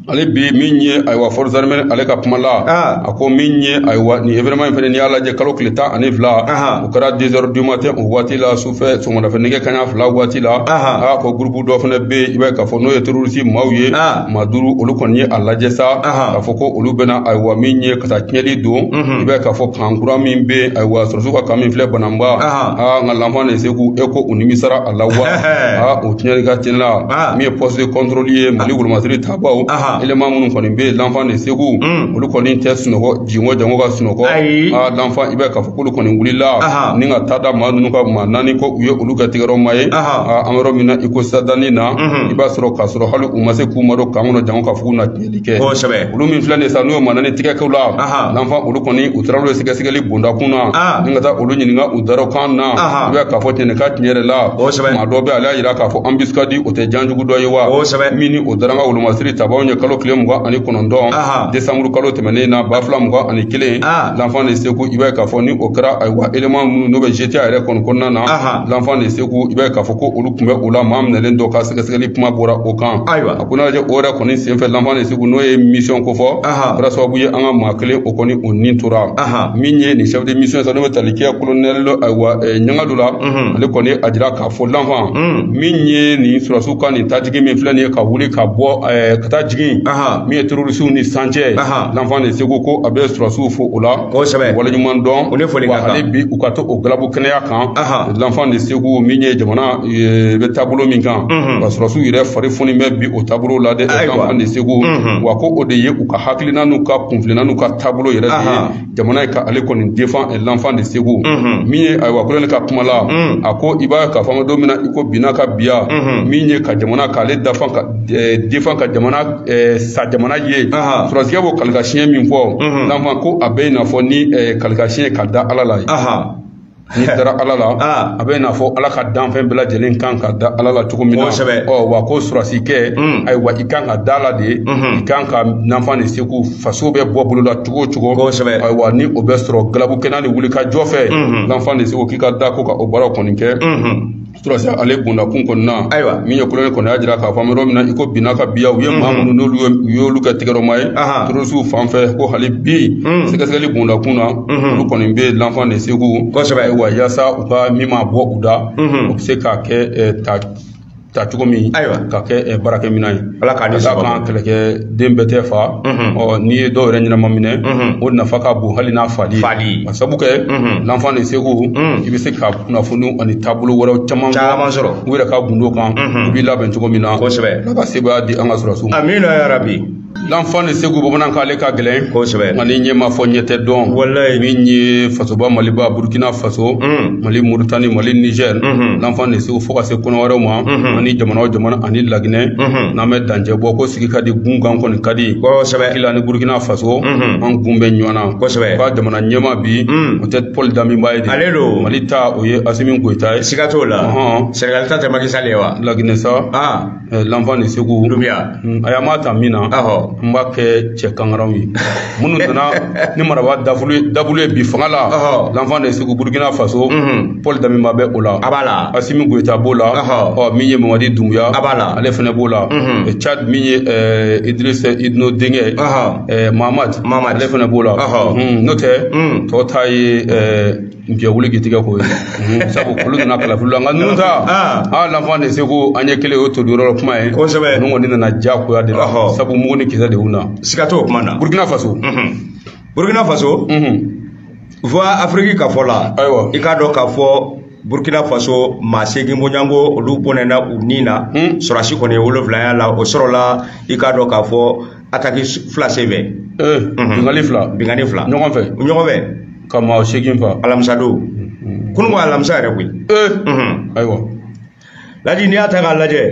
la bi min ye ayiwa forces armées ale ka kuma la a ko min ye ayiwa nin événement in fana ni y'a lajɛ kalo tile tan ani fila o kɛra deux heures du matin o waati la su fɛ sɔgɔmadafɛ nɛgɛ kaɲa fila waati la a ko gurupu dɔ fana bɛ yen i b'a ye k'a fɔ n'o ye terorisi maaw ye maa duuru olu kɔni ye a lajɛ sa k'a fɔ ko olu bɛna ayiwa min ye ka taa tiɲɛni don i b'a ye k'a fɔ kan kura min bɛ yen ayiwa sɔrɔsiw ka kan min filɛ bananba aa nka l'enfant de Ségou e ko u nimisara a la wa aa o tiɲɛni ka tiɲɛni la min ye poste de contrôle ye mali wolomasiri tabaaw élément minnu kɔni bɛ yen l'enfant de Ségou olu kɔni tɛ sunɔgɔ Jingɔn janko ka sunɔgɔ ayi aa l'enfant i b'a ye k'a fɔ k'olu kɔni wulila Ahan. ni ka taa da maa ninnu kan maa naani ko u ye olu kɛ tigɛrɔ maa ye Ahan. aa, an bɛ yɔrɔ min na i ko sadani na Mhm. i b'a sɔrɔ k'a sɔrɔ hali u ma se k'u madon kan kɔnɔ janko k'a fɔ k'u na tiɲɛli kɛ Kosɛbɛ. olu min filɛ nin ye sa n'u ye maa naani tigɛ kɛ u la Ahan. l'enfant olu kɔni u taara olu ye sɛgɛsɛgɛli bondakun na Ah. ni ka taa olu ɲininka u darɔkan na Ahan. i b'a ye k'a fɔ tiɲɛni ka tiɲɛ yɛrɛ la Kosɛbɛ. maa dɔ bɛ ale y'a jira k'a fɔ embuscade o tɛ janjugu dɔ ye wa Kosɛbɛ. min ni o U dara an ka wolomasiri tabaaw ɲɛ kalo tile mugan ani kɔnɔntɔn Aha. desanburu kalo tɛmɛnen na ba fila mugan ani kelen Ah. l'enfant de Ségou i b'a ye k'a fɔ ni o kɛra ayiwa élément minnu n'o bɛ GTIA yɛrɛ kɔni kɔnɔna na Aha. l'enfant de Ségou i b'a ye k'a fɔ ko olu tun bɛ o la maa minɛlen dɔ ka sɛgɛsɛgɛli kuma bɔra o kan Ayiwa. a ko n'a lajɛ o yɛrɛ kɔni senfɛ l'enfant de Ségou n'o ye mission kofɔ Aha. kɛra sababu ye an ka maa kelen o kɔni o ni tora Aha. min ye nin chef de mission ye sa n'o bɛ tali kɛ kolonɛli ayiwa eh, ɲanga dɔ la ale kɔni y'a jira k'a fɔ l'enfant min ye nin surasiw ka nin tajigi min filɛ nin ye ka wuli ka bɔ eh, ka taa jigin min ye terorisiw ni san cɛ l'enfant de Ségou ko a bɛ surasiw fo o la waleɲuman dɔn wa hali bi u ka to o galabu kɛnɛya kan l'enfant de Ségou min ye jamana eh, bɛ taabolo min kan ka surasiw yɛrɛ fari foninen bɛ o taabolo la dɛ l'enfant de Ségou wa ko o de ye u ka hakilina n'u ka kunfilenna n'u ka taabolo yɛrɛ de ye jamana ka ale kɔni defan eh, l'enfant de Ségou mhm. min ye ayiwa kolonɛli ka kuma la mhm. a ko i b'a k'a fɔ an bɛ don min na i ko bi n'a ka biya mhm. min ye ka jamana k'ale dafan ka eh, defan ka jamana eh, sa jamana ye sɔrɔsikɛ b'o kalikasiɲɛ min fɔ l'enfant ko a bɛ i n'a fɔ ni kalikasiɲɛ ka da ala la ye n'i dara ala la ah. a bɛ n'a fɔ ala ka danfɛn bɛɛ lajɛlen kan ka da ala la cogo min na ɔ wa ko surasi kɛ hmm. ayiwa i kan ka da la de hmm. i kan ka l'enfant de Ségou faso bɛ bɔ bɔlɔ la cogo o cogo ayiwa ni o bɛ sɔrɔ galabu kɛnɛya ni wuli ka jɔ fɛ hmm. l'enfant de Ségou k'i ka da ko ka o baara kɔni kɛ surasi ale bondakun kɔnɔna ayiwa min ye kolonɛli kɔni y'a jira k'a fɔ an bɛ yɔrɔ min na i ko bi n'a ka biya u ye maa minnu n'olu ye u y'olu kɛ tɛgɛrɔmaa ye terorisiw fan fɛ ko hali bi sɛgɛsɛgɛli bondakun na olu kɔni bɛ l'enfant de Ségou kosɛbɛ ayiwa yaasa u ka min ma bɔ u da o bɛ se ka kɛ ta cogo min ayiwa ka kɛ baarakɛminɛn ye ala k'a ni sabanan kɛlɛkɛden bɛɛ tɛ fa n'i ye dɔw yɛrɛ ɲɛnama minɛ o nafa ka bon hali n'a fali ka sabu kɛ l'enfant de Ségou i bɛ se ka kunnafoni ani taabolo wɛrɛw caman caman sɔrɔ u yɛrɛ ka gundo kan u b'i labɛn cogo min na kosɛbɛ ala ka sebaaya di an ka sɔrɔsiw ma amiina yarabi l'enfant de Ségou bamanankan ale ka gɛlɛn kosɛbɛ nka ni ɲɛ ma fɔ ɲɛ tɛ dɔn wala min ye fasoba maliba burukina faso mali moritani mali niger l'enfant de Ségou fo ka se kɔnɔwari ma ani jamana o jamana ani laginɛ n'an bɛ dancɛ bɔ ko sigi ka di gun kan kɔni ka di kosɛbɛ kila ni burkina faso an kun bɛ ɲɔgɔn na kosɛbɛ ka jamana ɲɛmaa bi o tɛ paul damiba ye de ale don mali ta o ye asimi goyita ye siga t'o la senegali ta tɛ maki sali ye wa laginɛ sa l'enfant de Ségou dunbuya a y'a ma ta min na n b'a kɛ cɛ kangaraw ye minnu nana ni marafa dabulu ye bi fanga la l'enfant de Ségou burukina faso paul damiba bɛ o la a b'a la asimi goyita b'o la ɔ min ye mamadi dunbuya a b'a la ale fana b'o la cad min ye idris idino denkɛ mamad mamad ale fana b'o la n'o tɛ tɔw ta ye Jɛ wuli k'i tigɛ ko ye sabu olu nana kalafili la nka ninnu ta aa l'enfant de Ségou an ye kelen o to yɔrɔ kuma ye kosɛbɛ ninnu kɔni nana diyagoya de la sabu mugu ni kisɛ de y'u na siga t'o kuma na burukina faso burukina faso voix afrique ka fɔ la ayiwa i k'a dɔn k'a fɔ burkina faso maa segin bɔɲɔgɔnko olu bɔnɛna u ni na sɔrɔsi kɔni ye wolonwula ye a la o sɔrɔla i k'a dɔn k'a fɔ ataki fila senfɛ ee binkanni fila binkanni fila ɲɔgɔn fɛ ɲɔgɔn fɛ ka maa seegin fa alamisa don kunu ko alamisa yɛrɛ koyi ee ayiwa ladi n'i y'a ta k'a lajɛ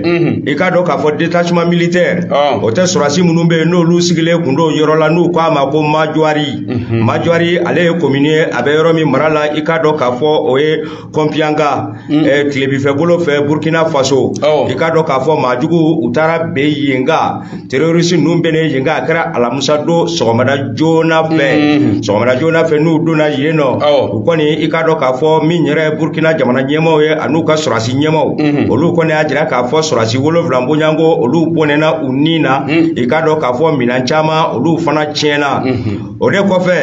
i k'a dɔn k'a fɔ detachement militaire o tɛ sɔrɔsi minnu bɛ yen n'olu sigilen kun don yɔrɔ la n'u k'a ma ko majuwari majuwari ale ye komini ye a bɛ yɔrɔ min mara la i k'a dɔn k'a fɔ o ye kɔnpiyanga mm. eh, tilebinfɛbolo fɛ burkina faso oh. i k'a dɔn k'a fɔ maajugu u taara bin yen kan terorisi ninnu binnen yen kan a kɛra alamusa don sɔgɔmada joona fɛ mm. sɔgɔmada joona fɛ n'u donna yen nɔ oh. u kɔni i k'a dɔn k'a fɔ min yɛrɛ ye burkina jamana ɲɛmaaw ye an'u ka sɔrɔsi ɲɛmaaw mm-hmm. olu kɔni y'a jira k'a fɔ sɔrɔsi wolonwula bɔɲɔgɔnko olu bɔnɛna u ni na mm. i k'a dɔn k'a fɔ minan caman olu fana tiɲɛna mm-hmm. o de kɔfɛ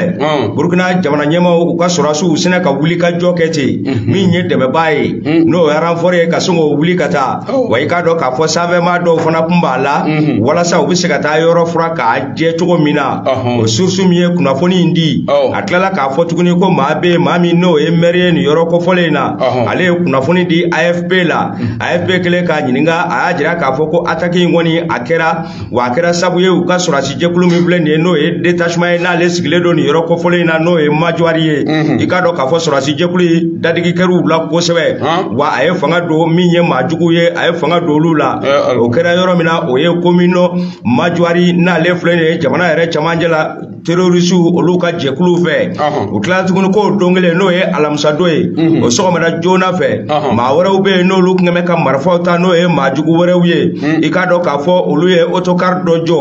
burukina jamana ɲɛmaaw u ka sɔrɔsiw sinna ka wuli ka jɔ kɛ ten min ye dɛmɛbaa ye n'o ye aranfɔri ye ka sin k'o wuli ka taa wa i k'a dɔn k'a fɔ sanfɛmaa dɔw fana kun b'a la walasa u bɛ se ka taa yɔrɔ furan k'a jɛ cogo min na o surusu min ye kunnafoni in di a tilala k'a fɔ tuguni ko maa bɛ maa min n'o ye mɛri ye nin yɔrɔ kofɔlen in na ale ye kunnafoni di afp la afp kɛlen k'a ɲininka a y'a jira k'a fɔ ko ataki in kɔni a kɛra wa a kɛra sabu ye u ka sɔrɔsi jɛkulu min filɛ nin ye n'o ye detachement ye n'ale sigilen don nin yɔrɔ kofɔlen in na n'o ye majwari ye i k'a dɔn k'a fɔ sɔrɔsi jɛkulu in dadigi kɛra u la kosɛbɛ wa a ye fanga don min ye maajugu ye a ye fanga don olu la o kɛra yɔrɔ min na o ye komin majwari n'ale filɛ nin ye jamana yɛrɛ cɛmancɛ la terorisiw olu ka jɛkuluw fɛ u tilala tuguni k'o don kelen n'o ye alamisadon ye mhm. o sɔgɔmada joona fɛ maa wɛrɛw bɛ yen n'olu tun bɛ ka marifaw ta n'o ye maajugu wɛrɛw ye mhm. i k'a dɔn k'a fɔ olu ye otokari dɔ jɔ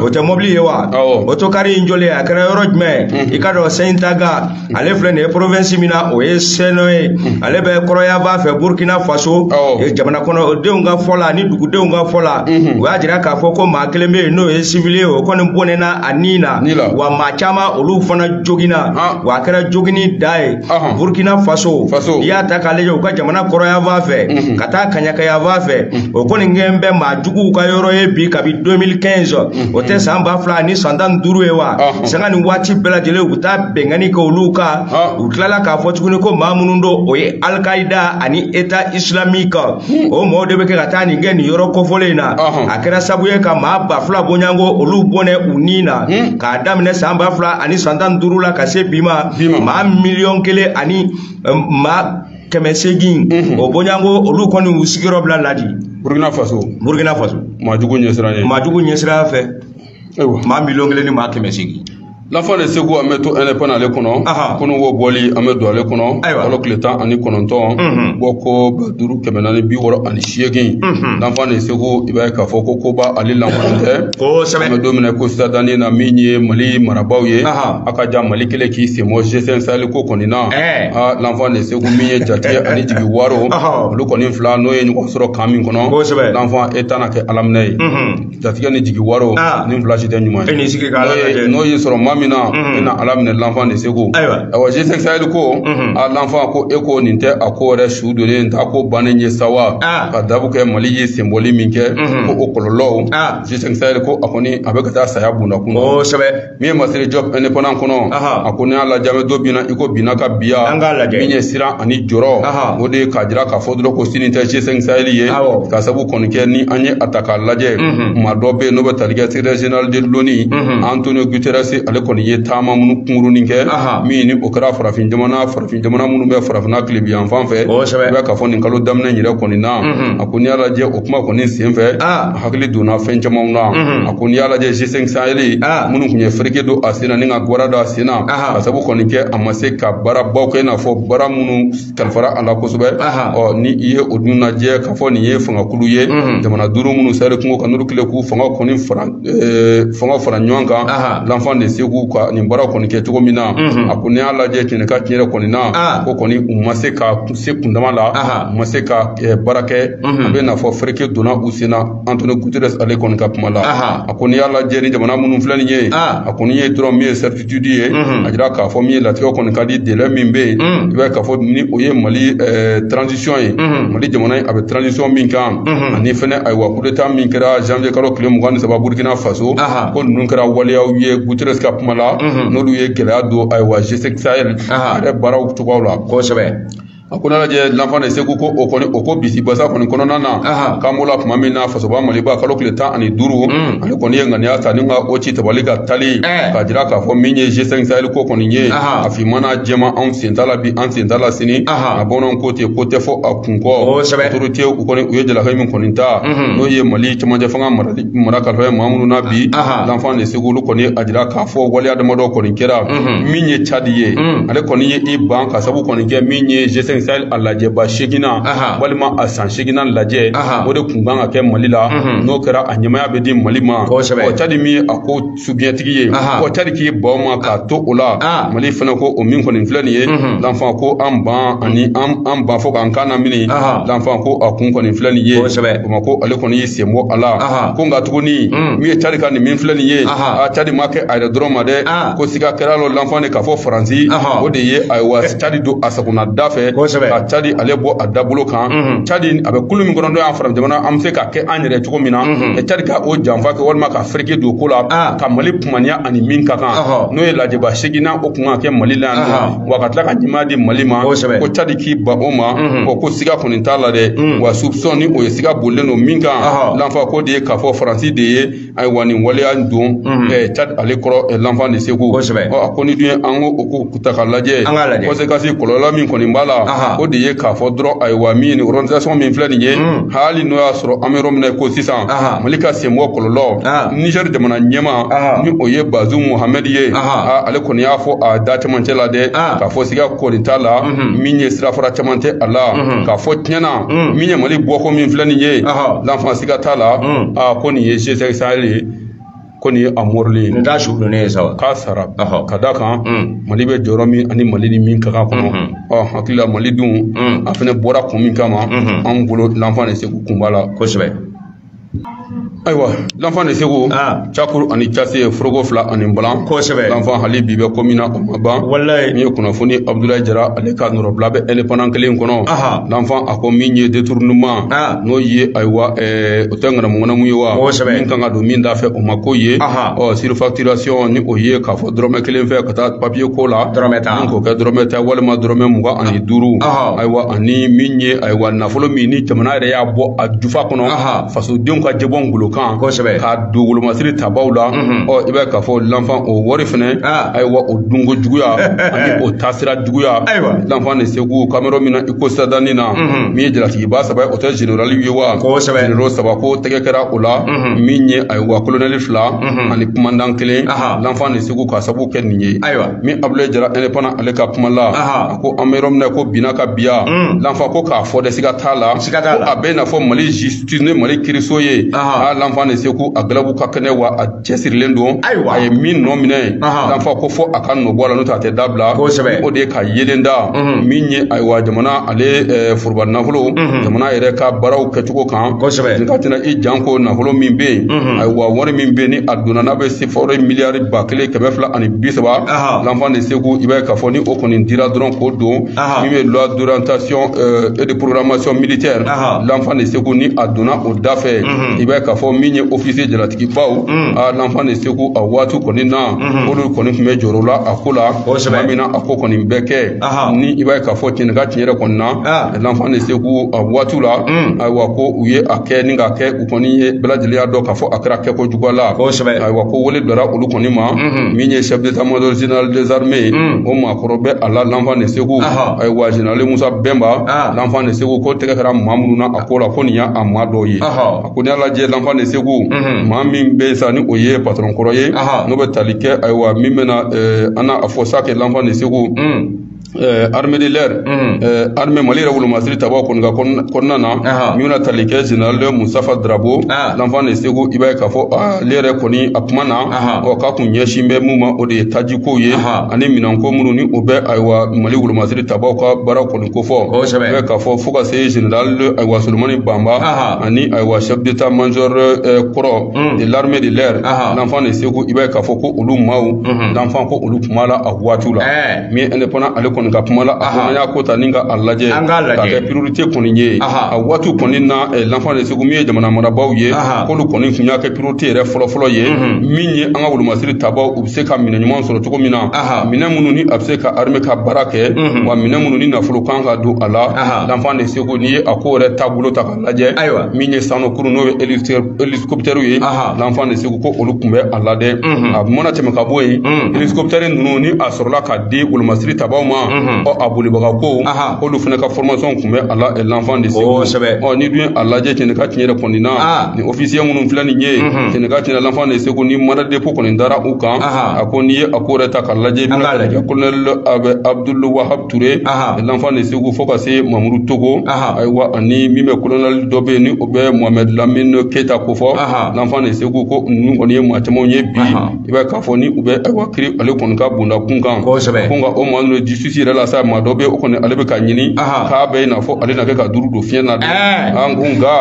o tɛ mɔbili ye wa otokari in jɔlen a kɛra yɔrɔ jumɛn mhm. i k'a dɔn sɛntaga ale filɛ nin ye province min na o ye seno ye mm. ale bɛ kɔrɔnyanfan fɛ burkina faso jamana kɔnɔdenw ka fɔ la ni dugudenw ka fɔ la mm-hmm. u y'a jira k'a fɔ ko maa kelen bɛ yen n'o ye civil ye o kɔni bɔnɛna a ni na wa maa caman olu fana joginna ah. wa a kɛra joginnida ye burkina faso i y'a ta k'a lajɛ u ka jamana kɔrɔnyanfan fɛ mm-hmm. ka taa kɛɲɛkayanfan fɛ mm-hmm. o kɔni kɛn bɛ maajuguw ka yɔrɔ ye bi kabi 2015 o tɛ san ba fila ni san tan ni duuru ye wa sanga ni waati bɛɛ lajɛlen u bɛ taa binkanni kɛ olu kan u tilala k'a fɔ tuguni ko maa minnu don o ye alikaida ani eta isilamiki hmm. o mɔgɔw de bɛ kɛ ka taa nin kɛ nin yɔrɔ kofɔlen in na a kɛra sabu ye ka maa ba fila bɔɲɔgɔnko olu bɔnɛ u ni na hmm. k'a daminɛ san ba fila ani san tan ni duuru la ka se bi ma maa miliyɔn kelen ani maa kɛmɛ seegin o bɔɲɔnko olu kɔni u sigiyɔrɔ bila ladi burukina faso burukina faso maajugu ɲɛsiranɲɛ maajugu ɲɛsiranɲɛ fɛ maa miliyɔn kelen ni maa kɛmɛ seegin l'enfant de Ségou an bɛ to indépendant ale kɔnɔ kunu wo bɔli an bɛ don ale kɔnɔ kalo tile tan ani kɔnɔntɔn mhm. bɔko ba duuru kɛmɛ naani bi wɔɔrɔ ani seegin mhm. l'enfant de Ségou i b'a ye k'a fɔ ko koba ale lankolon tɛ an bɛ don min na ko sisan dannen na min ye mali marabaaw ye a ka ja mali kɛlen k'i sen bɔ g5 sahel ko kɔni na l'enfant de Ségou min ye jatigɛ ani jigiwaro olu kɔni fila n'o ye ɲɔgɔn sɔrɔ kan min kɔnɔ l'enfant e tɛna kɛ alaminɛ ye jatigɛ ni jigiwaro ni fila si tɛ ɲuman ye n'o y'i sɔrɔ maa min na e na alaminɛ l'enfant de Ségou ayiwa g5 sahel ko a l'enfant ko e ko nin tɛ a ko yɛrɛ su donnen t'a ko bannen ye sa wa ka dabu kɛ mali ye senbɔli min kɛ ko o kɔlɔlɔw g5 sahel ko a kɔni a bɛ ka taa saya bunda kun kosɛbɛ min ye Massiré Diop indépendant kɔnɔ a ko n'i y'a lajɛ an bɛ don bi na i ko bi na ka biya an k'a lajɛ min ye siran ani jɔrɔ o de ye k'a jira k'a fɔ dɔrɔn ko sini tɛ g5 sahel ye ka sabu kɔni kɛ ni an ye a ta k'a lajɛ maa dɔ bɛ yen n'o bɛ tali kɛ secrétaire général de l'ONU Antonio Guterres ale kɔni ye taama minnu kunkurunin kɛ min ni o kɛra farafin jamana farafin jamana minnu bɛ farafinna tilebinyanfan fɛ i b'a k'a fɔ nin kalo daminɛ in yɛrɛ kɔni na a ko n'i y'a lajɛ o kuma kɔni sen fɛ hakili donna fɛn camanw na a ko n'i y'a lajɛ g5 sahel minnu tun ye fereke don a sen na ni ka gwara don a sen na ka sabu kɔni kɛ a ma se ka baarabaw kɛ i n'a fɔ baara minnu kalifara a la kosɛbɛ ɔ ni i ye o dun lajɛ k'a fɔ nin ye fangakulu ye jamana duuru minnu saheli kungo kan n'olu kɛlen k'u fanga kɔni fara fanga fara ɲɔgɔn kan l'enfant de Ségou ka nin baara kɔni kɛ cogo min na a ko n'i y'a lajɛ tiɲɛ ni ka tiɲɛ yɛrɛ kɔni na ko kɔni u ma se ka se kundama la u ma se ka baara kɛ a bɛ n'a fɔ fereke donna u sen na Antonio Guterres ale kɔni ka kuma la a ko n'i y'a lajɛ ni jamana minnu filɛ nin ye a kɔni ye dɔrɔn min ye certitude ye a jira k'a fɔ min ye latigɛ kɔni ka di délai min bɛ yen i b'a k'a fɔ ni o ye mali transition ye mali jamana a bɛ transition min kan ani fɛnɛ ayiwa coup d'état min kɛra janvier kalo tile mugan ni saba burukina faso ko ninnu kɛra waleyaw ye Guterres ka kuma la n'olu ye gɛlɛya don ayiwa g5 sahel a yɛrɛ baaraw cogoya la kosɛbɛ a ko n'a lajɛ l'enfant de Ségou ko o kɔni o ko bisi basa kɔni kɔnɔna na k'an b'o la tuma min na fasoba maliba kalo tile tan ani duuru mm. ale kɔni ye ŋaniya ta ni ka o ci tabali kan tali eh. k'a jira k'a fɔ min ye g5 sahel ko kɔni ye a finmana jɛma anw sen t'a la bi an sen t'a la sini a bamananw ko ten ko tɛ fɔ a kun kɔ autorité u kɔni u ye jalaki min kɔni ta mm-hmm. n'o ye mali cɛmancɛ fanga marali mara kalifalen maa minnu na bi l'enfant de Ségou olu kɔni a jira k'a fɔ waleya damadɔ kɔni kɛra min ye cadi ye ale kɔni ye i ban ka sabu kɔni kɛ min ye g5 sahel a lajɛba seeginnan walima a san seeginnan lajɛ o de tun kan ka kɛ mali la n'o kɛra a ɲɛmaaya bɛ di mali ma cadi min ye a ko subiɲɛtigi ye Aha. ko cadi k'i ban o ma k'a to o la Ah. mali fana ko o min kɔni filɛ nin ye Mhm. lanfan ko an ban ani an an ban fo k'an kan lamini Aha. lanfan ko a kun kɔni filɛ nin ye Kosɛbɛ. o ma ko ale kɔni y'i sen bɔ a la Aha. ko nka tuguni Mm. min ye cadi ka nin min filɛ nin ye Aha. a cadi ma kɛ a yɛrɛ dɔrɔn ma dɛ Ah. ko siga kɛra lɔ lanfan de k'a fɔ faransi Aha. o de ye ayiwa cadi don a sagona da fɛ Kosɛbɛ. ka cadi ale bɔ a dabolo kan Mhm. cadi a bɛ kulu min kɔnɔ n'o y'an fara jamana an bɛ se k'a kɛ an yɛrɛ cogo min na Mhm. cadi ka o janfa kɛ walima ka fere lajɛ don ko la ah. ka mali kumaniya ani min ka kan n'o ye lajɛba seginnan o kun ka kɛ mali la yan ah. wa ka tila ka ɲɛmaaya di mali ma ko cadi k'i ban o ma mhm. ko ko siga kɔni t'a la dɛ mm. wa soupçon ni o ye siga bolilen don min kan lanfan k'o de ye k'a fɔ faransi de ye ayiwa nin waleya don mhm. cadi ale kɔrɔ lanfan de segu a ko ni dun ye an ko o ko ta ka lajɛ an ka lajɛ conséquence kɔlɔlɔ min kɔni b'a la o de ye k'a fɔ dɔrɔn ayiwa min nin organisation min filɛ nin ye hmm. hali n'o y'a sɔrɔ an bɛ yɔrɔ min na ko sisan mali ka senbɔ kɔlɔlɔ nizɛri jamana ɲɛmaa ni o ye bazu muhamɛdi ye ale kɔni y'a fɔ a da cɛmancɛ la dɛ k'a fɔ siga kɔni t'a la hmm. min ye sirafara caman tɛ a la hmm. k'a fɔ tiɲɛna min ye mali bɔko min filɛ nin ye lanfan siga t'a la ko nin ye G5 Sahel ye ko nin ye a morilen ye nin t'a su donnen ye sa wa k'a sara ka d'a kan mm. mali bɛ jɔyɔrɔ min ani mali ni min ka kan kɔnɔ mm-hmm. ɔ hakili la mali dun mm. a fana bɔra kun min kama mm-hmm. anw bolo lanfan de segu kun b'a la kosɛbɛ ayiwa lanfan de segu ah. cakuru ani case foroko fila ani balan kosɛbɛ lanfan hali bi bɛ ko min na o ma ban walayi min ye kunnafoni abudulayi jara ale ka nɔrɔbila bɛ indépendant kelen kɔnɔ lanfan a ko min ye détournement ah. n'o ye ayiwa ɛɛ O tɛ ŋanamuŋanamu ye wa kosɛbɛ min kan ka don min da fɛ o ma ko ye ɔ surfacturation ni o ye k'a fɔ dɔrɔmɛ kelen fɛn ka taa papiye ko la dɔrɔn k'o kɛ dɔrɔmɛ tan walima dɔrɔmɛ mugan ani duuru ayiwa ani min ye ayiwa nafolo min ni jamana yɛrɛ y'a bɔ a jufa kɔnɔ fasodenw ka jɛbɔ ngolo kan kosɛbɛ ka don wolomasiri tabaw la ɔ i b'a ye k'a fɔ lanfan o wari fɛnɛ ayiwa o dunko juguya ani o taasira juguya lanfan de segu k'an bɛ yɔrɔ min na i ko sidadanni na min ye jalatigiba saba o tɛ zenerali ye wa kosɛbɛ zenero saba ko tɛgɛ kɛra o la min ye ayiwa kolonɛli fila ani kumandan kelen lanfan de segu k'a sabu kɛ nin ye ayiwa min abulayi jara indépendant ale ka kuma la a ko an bɛ yɔrɔ min na ko binna ka biya lanfan ko k'a fɔ dɛ siga t'a la siga t'a la a bɛ n'a fɔ mali justice ni mali kiiriso ye a lanfan de segu a galabu ka kɛnɛ wa a cɛsirilen don ayiwa a ye min nɔ minɛ lanfan ko fo a ka nɔ bɔ a la n'o tɛ a tɛ dabila kosɛbɛ o de ye ka yeelen da min ye ayiwa jamana ale eh, foroba nafolo jamana yɛrɛ ka baaraw kɛcogo kan kosɛbɛ nin ka tɛna i janko nafolo min bɛ yen ayiwa wari min bɛ yen ni a donna n'a bɛ se fo miliyari ba kelen kɛmɛ fila ani bi saba lanfan de segu i b'a ye k'a fɔ ni o kɔni dira dɔrɔn k'o don min bɛ loi d'orientation eh, et de programmation militaire lanfan de segu ni a donna o da fɛ i b'a ye k'a fɔ min ye officier jalatigibaw a l'enfant de segu a waati kɔni na olu kɔni tun bɛ jɔrɔ la a ko la tuma min na a ko kɔni bɛɛ kɛ ni i b'a ye k'a fɔ tiɲɛ ni ka tiɲɛ yɛrɛ kɔni na l'enfant de segu a waati la ayiwa ko u ye a kɛ ni k'a kɛ u kɔni ye bɛɛ lajɛlen y'a dɔn k'a fɔ a kɛra kɛko juguya la ayiwa ko wele bilara olu kɔni ma min ye chef d'état major général des armées ye o maakɔrɔ bɛ a la l'enfant de segu ayiwa général musa bɛnba l'enfant de segu ko tɛgɛ kɛra maa minnu na a ko la ko nin y'a maa dɔw ye a ko n'i y'a lajɛ l'enfant de segu mhm. maa min bɛ sa ni o ye patron kɔrɔ ye n'o bɛ tali kɛ ayiwa min bɛna eh, an na a fɔ sa kɛ l'enfant de segu mhm. eh, armée de l'air mhm. eh, armée mali yɛrɛ wolomasiri tabaw kɔni ka kɔnɔna na min bɛna tali kɛ général mustafa darabo ah. l'enfant de segu i b'a ye k'a fɔ ah, ale yɛrɛ kɔni a kuma na ɔ k'a kun ɲɛsin bɛ mun ma o de ye tajikow ye ani minɛnko minnu ni o bɛ ayiwa mali wolomasiri tabaw ka baara kɔni ko fɔ kosɛbɛ i b'a ye k'a fɔ fo ka se général ayiwa solomani banba ani ayiwa chef d'état major eh, kɔrɔ de l'armée de l'air l'enfant de segu i b'a ye k'a fɔ ko olu maaw l'enfant ko olu kuma la a waatiw la eh. min indépendant ale kɔni ka kuma la a ko an y'a ko ta ni ka a lajɛ k'a kɛ priorité kɔni ye a waatiw kɔni na eh, l'enfant de segu min ye jamana marabaaw ye k'olu kɔni tun y'a kɛ priorité yɛrɛ fɔlɔfɔlɔ ye min ye an ka wolomasiri tabaw se ka minɛn ɲuman sɔrɔ cogo min na minɛn minnu ni a bɛ se ka armée ka baara kɛ mhm. wa minɛn minnu ni nafolo kan ka don a la l'enfant de segu n'i ye a ko yɛrɛ taabolo ta k'a lajɛ ayiwa min ye sanna kurun n'o ye hélicoptère ye l'enfant de segu ko olu tun bɛ a la dɛ mhm. a mana tɛmɛ ka bɔ yen mhm. hélicoptère ninnu ni a sɔrɔla ka di wolomasiri tabaw ma ɔ a bolibaga ko k'olu fana ka formation tun bɛ a la l'enfant de segu ɔ n'i dun ye a lajɛ tiɲɛ ni ka tiɲɛ yɛrɛ kɔni na officier minnu filɛ nin ye kɛnɛ kan tiɲɛ na l'enfant de segu ni mandat dépôt kɔni dara u kan a ko n'i ye a ko yɛrɛ ta k'a lajɛ bɛna lajɛ kolonɛli abdul wahab ture l'enfant de segu fo ka se mamuru togo ayiwa ani min bɛ kolonɛli dɔ bɛ yen ni o bɛ mohamɛd lamine keyita ko fɔ l'enfant de segu ko ninnu kɔni ye maa camanw ye bi i b'a ye k'a fɔ ni u bɛ ayiwa kiri ale kɔni ka bonda kun kan kosɛbɛ ko nka o maa ninnu justice yɛrɛ la sa maa dɔ bɛ o kɔni ale bɛ ka ɲini k'a bɛ i n'a fɔ ale na kɛ ka duuru don fiɲɛ na dɛ an ko nka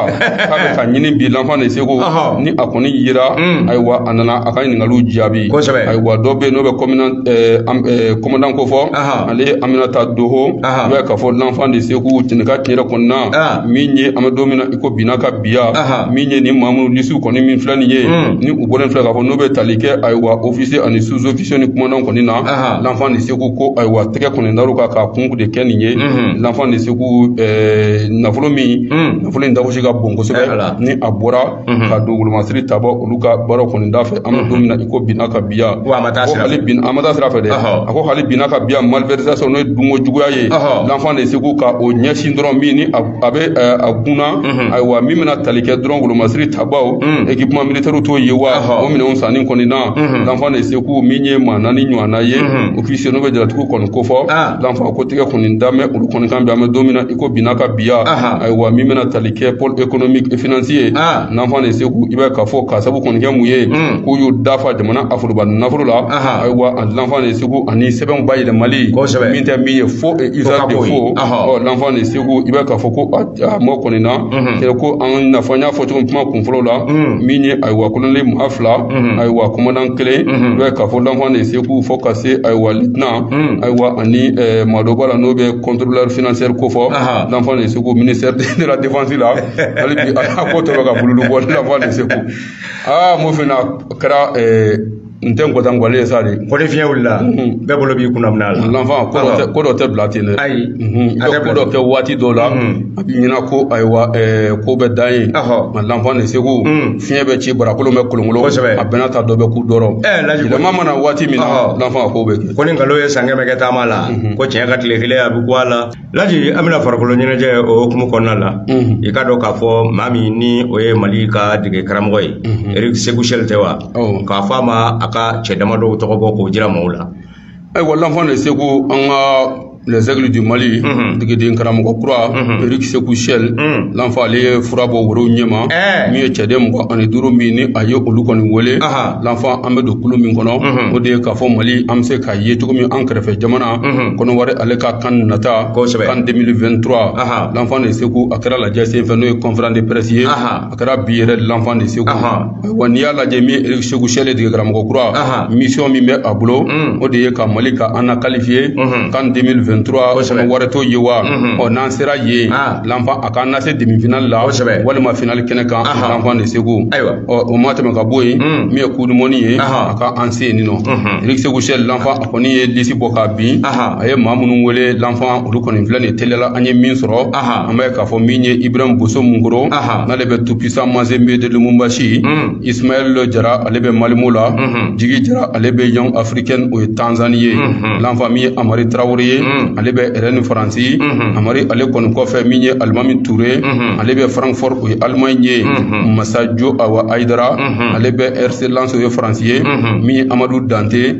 k'a bɛ ka ɲini bi l'enfant de segu ni a kɔni yera ayiwa a nana a ka ɲininkaliw jaabi kosɛbɛ ayiwa dɔ bɛ yen n'o bɛ kɔminan commandant ko fɔ ale ye aminata doho i b'a ye k'a fɔ l'enfant de segu tiɲɛ ni ka tiɲɛ yɛrɛ kɔni na min ye an bɛ don min na ko binna ka biya Aha. min ye nin maa minnu lisiw kɔni min filɛ nin ye Mm. ni u bɔlen filɛ k'a fɔ n'u bɛ tali kɛ ayiwa officier ani sous officier ni commandantw kɔni na Aha. l'enfant de segu ko ayiwa tɛgɛ kɔni dar'u kan k'a kun de kɛ nin ye Mhm. l'enfant de segu ɛɛ, nafolo min Mm. nafolo in dagosi ka bon Eh, kosɛbɛ ala. ni a bɔra Mhm. ka don wolomasiri taba olu ka baaraw kɔni da fɛ an bɛ don min na i ko binna ka biya Wa a ma taa ko sira fɛ. hali bi a ma taa sira fɛ dɛ Ɔhɔ. a ko hali binna ka biya malversation n'o ye dunko juguya ye Ɔhɔ. l'enfant de segu ka o ɲɛsin dɔrɔn min ni a a bɛ eh, a kunna mhm. ayiwa min bɛna tali kɛ dɔrɔn wolomasiri tabaw mhm. équipement militairew t'o ye wa o minɛnw sanni kɔni na mhm. l'enfant de segu min ye maa naani ɲɔgɔnna ye officier n'o bɛ jalatigiw kɔni kofɔ ah. l'enfant ko tigɛ kɔni dalen bɛ olu kɔni kan bi an bɛ don min na i ko binna ka biya ayiwa min bɛna tali kɛ pôle économique et financier ah. l'enfant de segu i b'a k'a fɔ k'a sabu kɔni kɛ mun ye k'u y'u dafa jamana ka foroba nafolo la ayiwa a l'enfant de segu ani sɛbɛnw bayɛlɛmali min tɛ min ye faux et usage de faux ɔ l'enfant de segu ko i b'a k'a fɔ ko a mɔgɔ kɔni na c'est que ah l'enfant n y'a fɔ cogo min kuma kunfɔlɔ la min ye ayiwa colonel maa fila ayiwa commandant kelen i b'a k'a fɔ l'enfant de segu fo ka se ayiwa lieutenant ayiwa ani maa dɔ b'a la n'o bɛ contrôleur financier ko fɔ l'enfant de segu ministère de la défense la hali bi a ko tɔ bɛ ka bululu bɔ l'enfant de segu aa mo fana kɛra n tɛ nkɔta nkɔli ye sa de ko ni fiɲɛ wulila bɛɛ bolo b'i kunna minɛn na l'enfant ko dɔ tɛ ko dɔ tɛ bila ten dɛ ayi i bɛ ko dɔ kɛ waati dɔw la a b'i ɲɛna ko ayiwa ko bɛ dan yen nka l'enfant de segu fiɲɛ bɛ ci barakolon bɛ kolonkolon kosɛbɛ a bɛna taa dɔ bɛ ko dɔrɔn yɛlɛma mana waati min na l'enfant a ko bɛ kɛ ko ni nkalon ye san kɛmɛ kɛ taama la ko tiɲɛ ka tile kelen a bɛ kun a la Laji an bɛna farikolo ɲɛnajɛ o hukumu kɔnɔna la i k'a dɔn k'a fɔ maa min ni o ye mali ka dege karamɔgɔ ye eric sekou chelle tɛ wa k'a fɔ a ma a ka cɛ damadɔw tɔgɔ bɔ k'o jira maaw la ayiwa l'enfant de segu an ka les aigles du mali degeden karamɔgɔ kura eric sekou chelle l'enfant ale ye fura bɔ woro ɲɛma min ye cɛden mugan ani duuru min ni a ye olu kɔni wele l'enfant an bɛ don kulu min kɔnɔ o de ye k'a fɔ mali an bɛ se ka ye cogo min an kɛrɛfɛ jamana kɔnɔwari ale ka CAN nata kosɛbɛ CAN 2023 l'enfant de segu a kɛra lajɛ sen fɛ n'o ye conférence de presse ye a kɛra bi yɛrɛ l'enfant de segu wa n'i y'a lajɛ min eric sekou chelle dege karamɔgɔ kura mission min bɛ a bolo o de ye ka mali ka an na qualifier CAN 2023 kosɛbɛ kɔnɔwari t'o ye wa ɔ n'an sera yen l'enfant a k'an lase demi finale la kosɛbɛ walima finale kɛnɛ kan l'enfant de segu ayiwa ɔ o ma tɛmɛ ka bɔ yen min ye coupe du monde ye a ka an se yen nin nɔ eric sekou chelle l'enfant a kɔni ye lisi bɔ k'a bin a ye maa minnu wele l'enfant olu kɔni filɛ nin teliya la an ye min sɔrɔ an b'a ye k'a fɔ min ye ibrahim boso munkoro n'ale bɛ tout puissant mazembe de lubumbashi mm. ismaɛl jara ale bɛ malmö la mm-hmm. jigi jara ale bɛ young africans o ye tanzani ye mm-hmm. l'enfant min ye amari tarawele ye mm. ale bɛ rennes faransi mm-hmm. amari ale kɔni kɔfɛ min ye alimami ture ale bɛ francfort o ye allemagne ye masajo awa aidara ale bɛ rc lens o ye faransi ye min ye amadu dante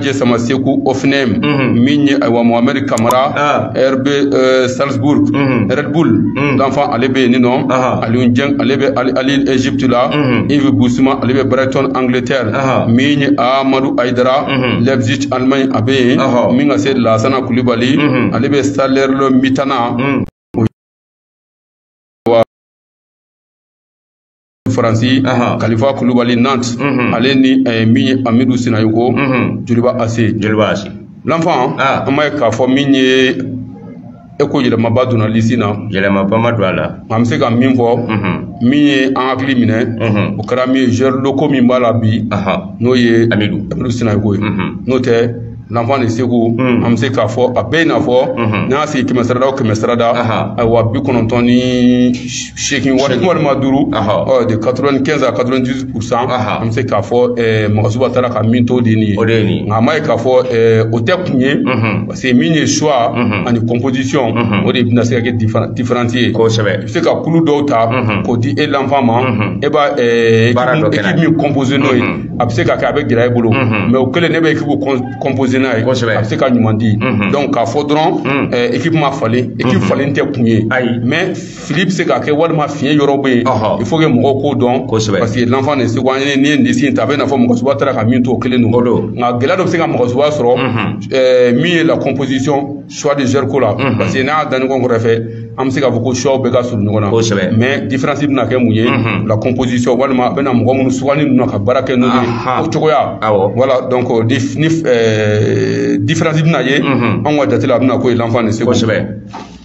Jɛ sama segu o fana min ye ayiwa mohameri kamara bɛ sabugu bull danfa ale bɛ yen nin nɔ ali ale bɛ ezptu la i bɛ busuma ale bɛ baratc angiletɛr min ye amadu ayidara lɛbiti alima a bɛ yen min ka se lasana kulibali ale bɛ sa dɔ bitana faransi kalifa kulubali nantes ale ni min ye amidu sinayoko joliba AC l'enfant an m'a ye k'a fɔ min ye e ko yɛlɛmaba donna lisi na yɛlɛmaba ma don a la an bɛ se ka min fɔ min ye an hakili minɛ o kɛra min ye joueur locaux min b'a la bi n'o ye amidu amidu sinayoko ye n'o tɛ l'enfant de segu mm. an bɛ se k'a fɔ a bɛ i n'a fɔ mm-hmm. n'a sigi kɛmɛ sarada o kɛmɛ sarada ayiwa bi kɔnɔntɔn ni seegin wa walima duuru de quatre-vingt-quinze à quatre-vingt-dix-huit pourcent an bɛ se k'a fɔ eh, magasuba taara ka min to de nin ye nka a ma ye k'a fɔ eh, o tɛ kun ye mm-hmm. parce que min ye choix mm-hmm. ani composition o de bɛna se ka kɛ différence ye kosɛbɛ i bɛ se ka kulu dɔw ta k'o di e l'enfant ma e b'a eh, équipe min composer n'o ye a bɛ se ka kɛ a bɛ gɛlɛya i bolo mais o kelen ne bɛ ekipu kɔnpose n'a ye a bɛ se ka ɲuman di donc k'a fɔ dɔrɔn ekipu ma falen ekipu falen tɛ kun ye mais fili bɛ se ka kɛ walima fiɲɛ yɔrɔ bɛ yen il faut que mɔgɔw k'o dɔn parce que l'enfant de segu an ye n'i ye lisi in ta a bɛ i n'a fɔ magasuba taara ka min to o kelen don nka gɛlɛya dɔ bɛ se ka magasuba sɔrɔ min ye la composition choix de joueur ko la mhm. parce que n'i y'a da ɲɔgɔn kɛrɛ fɛ an bɛ se k'a fɔ ko choix bɛɛ ka surun ɲɔgɔn na mais différence bɛna kɛ mun ye mhm. la composition walima a bɛna mɔgɔ minnu sugandi ninnu na ka baara kɛ n'u ye o cogoya awɔ voilà donc euh, dif ni euh, différence bɛna ye mhm. anw ka jate la a bɛna k'o ye l'enfant de segu kosɛbɛ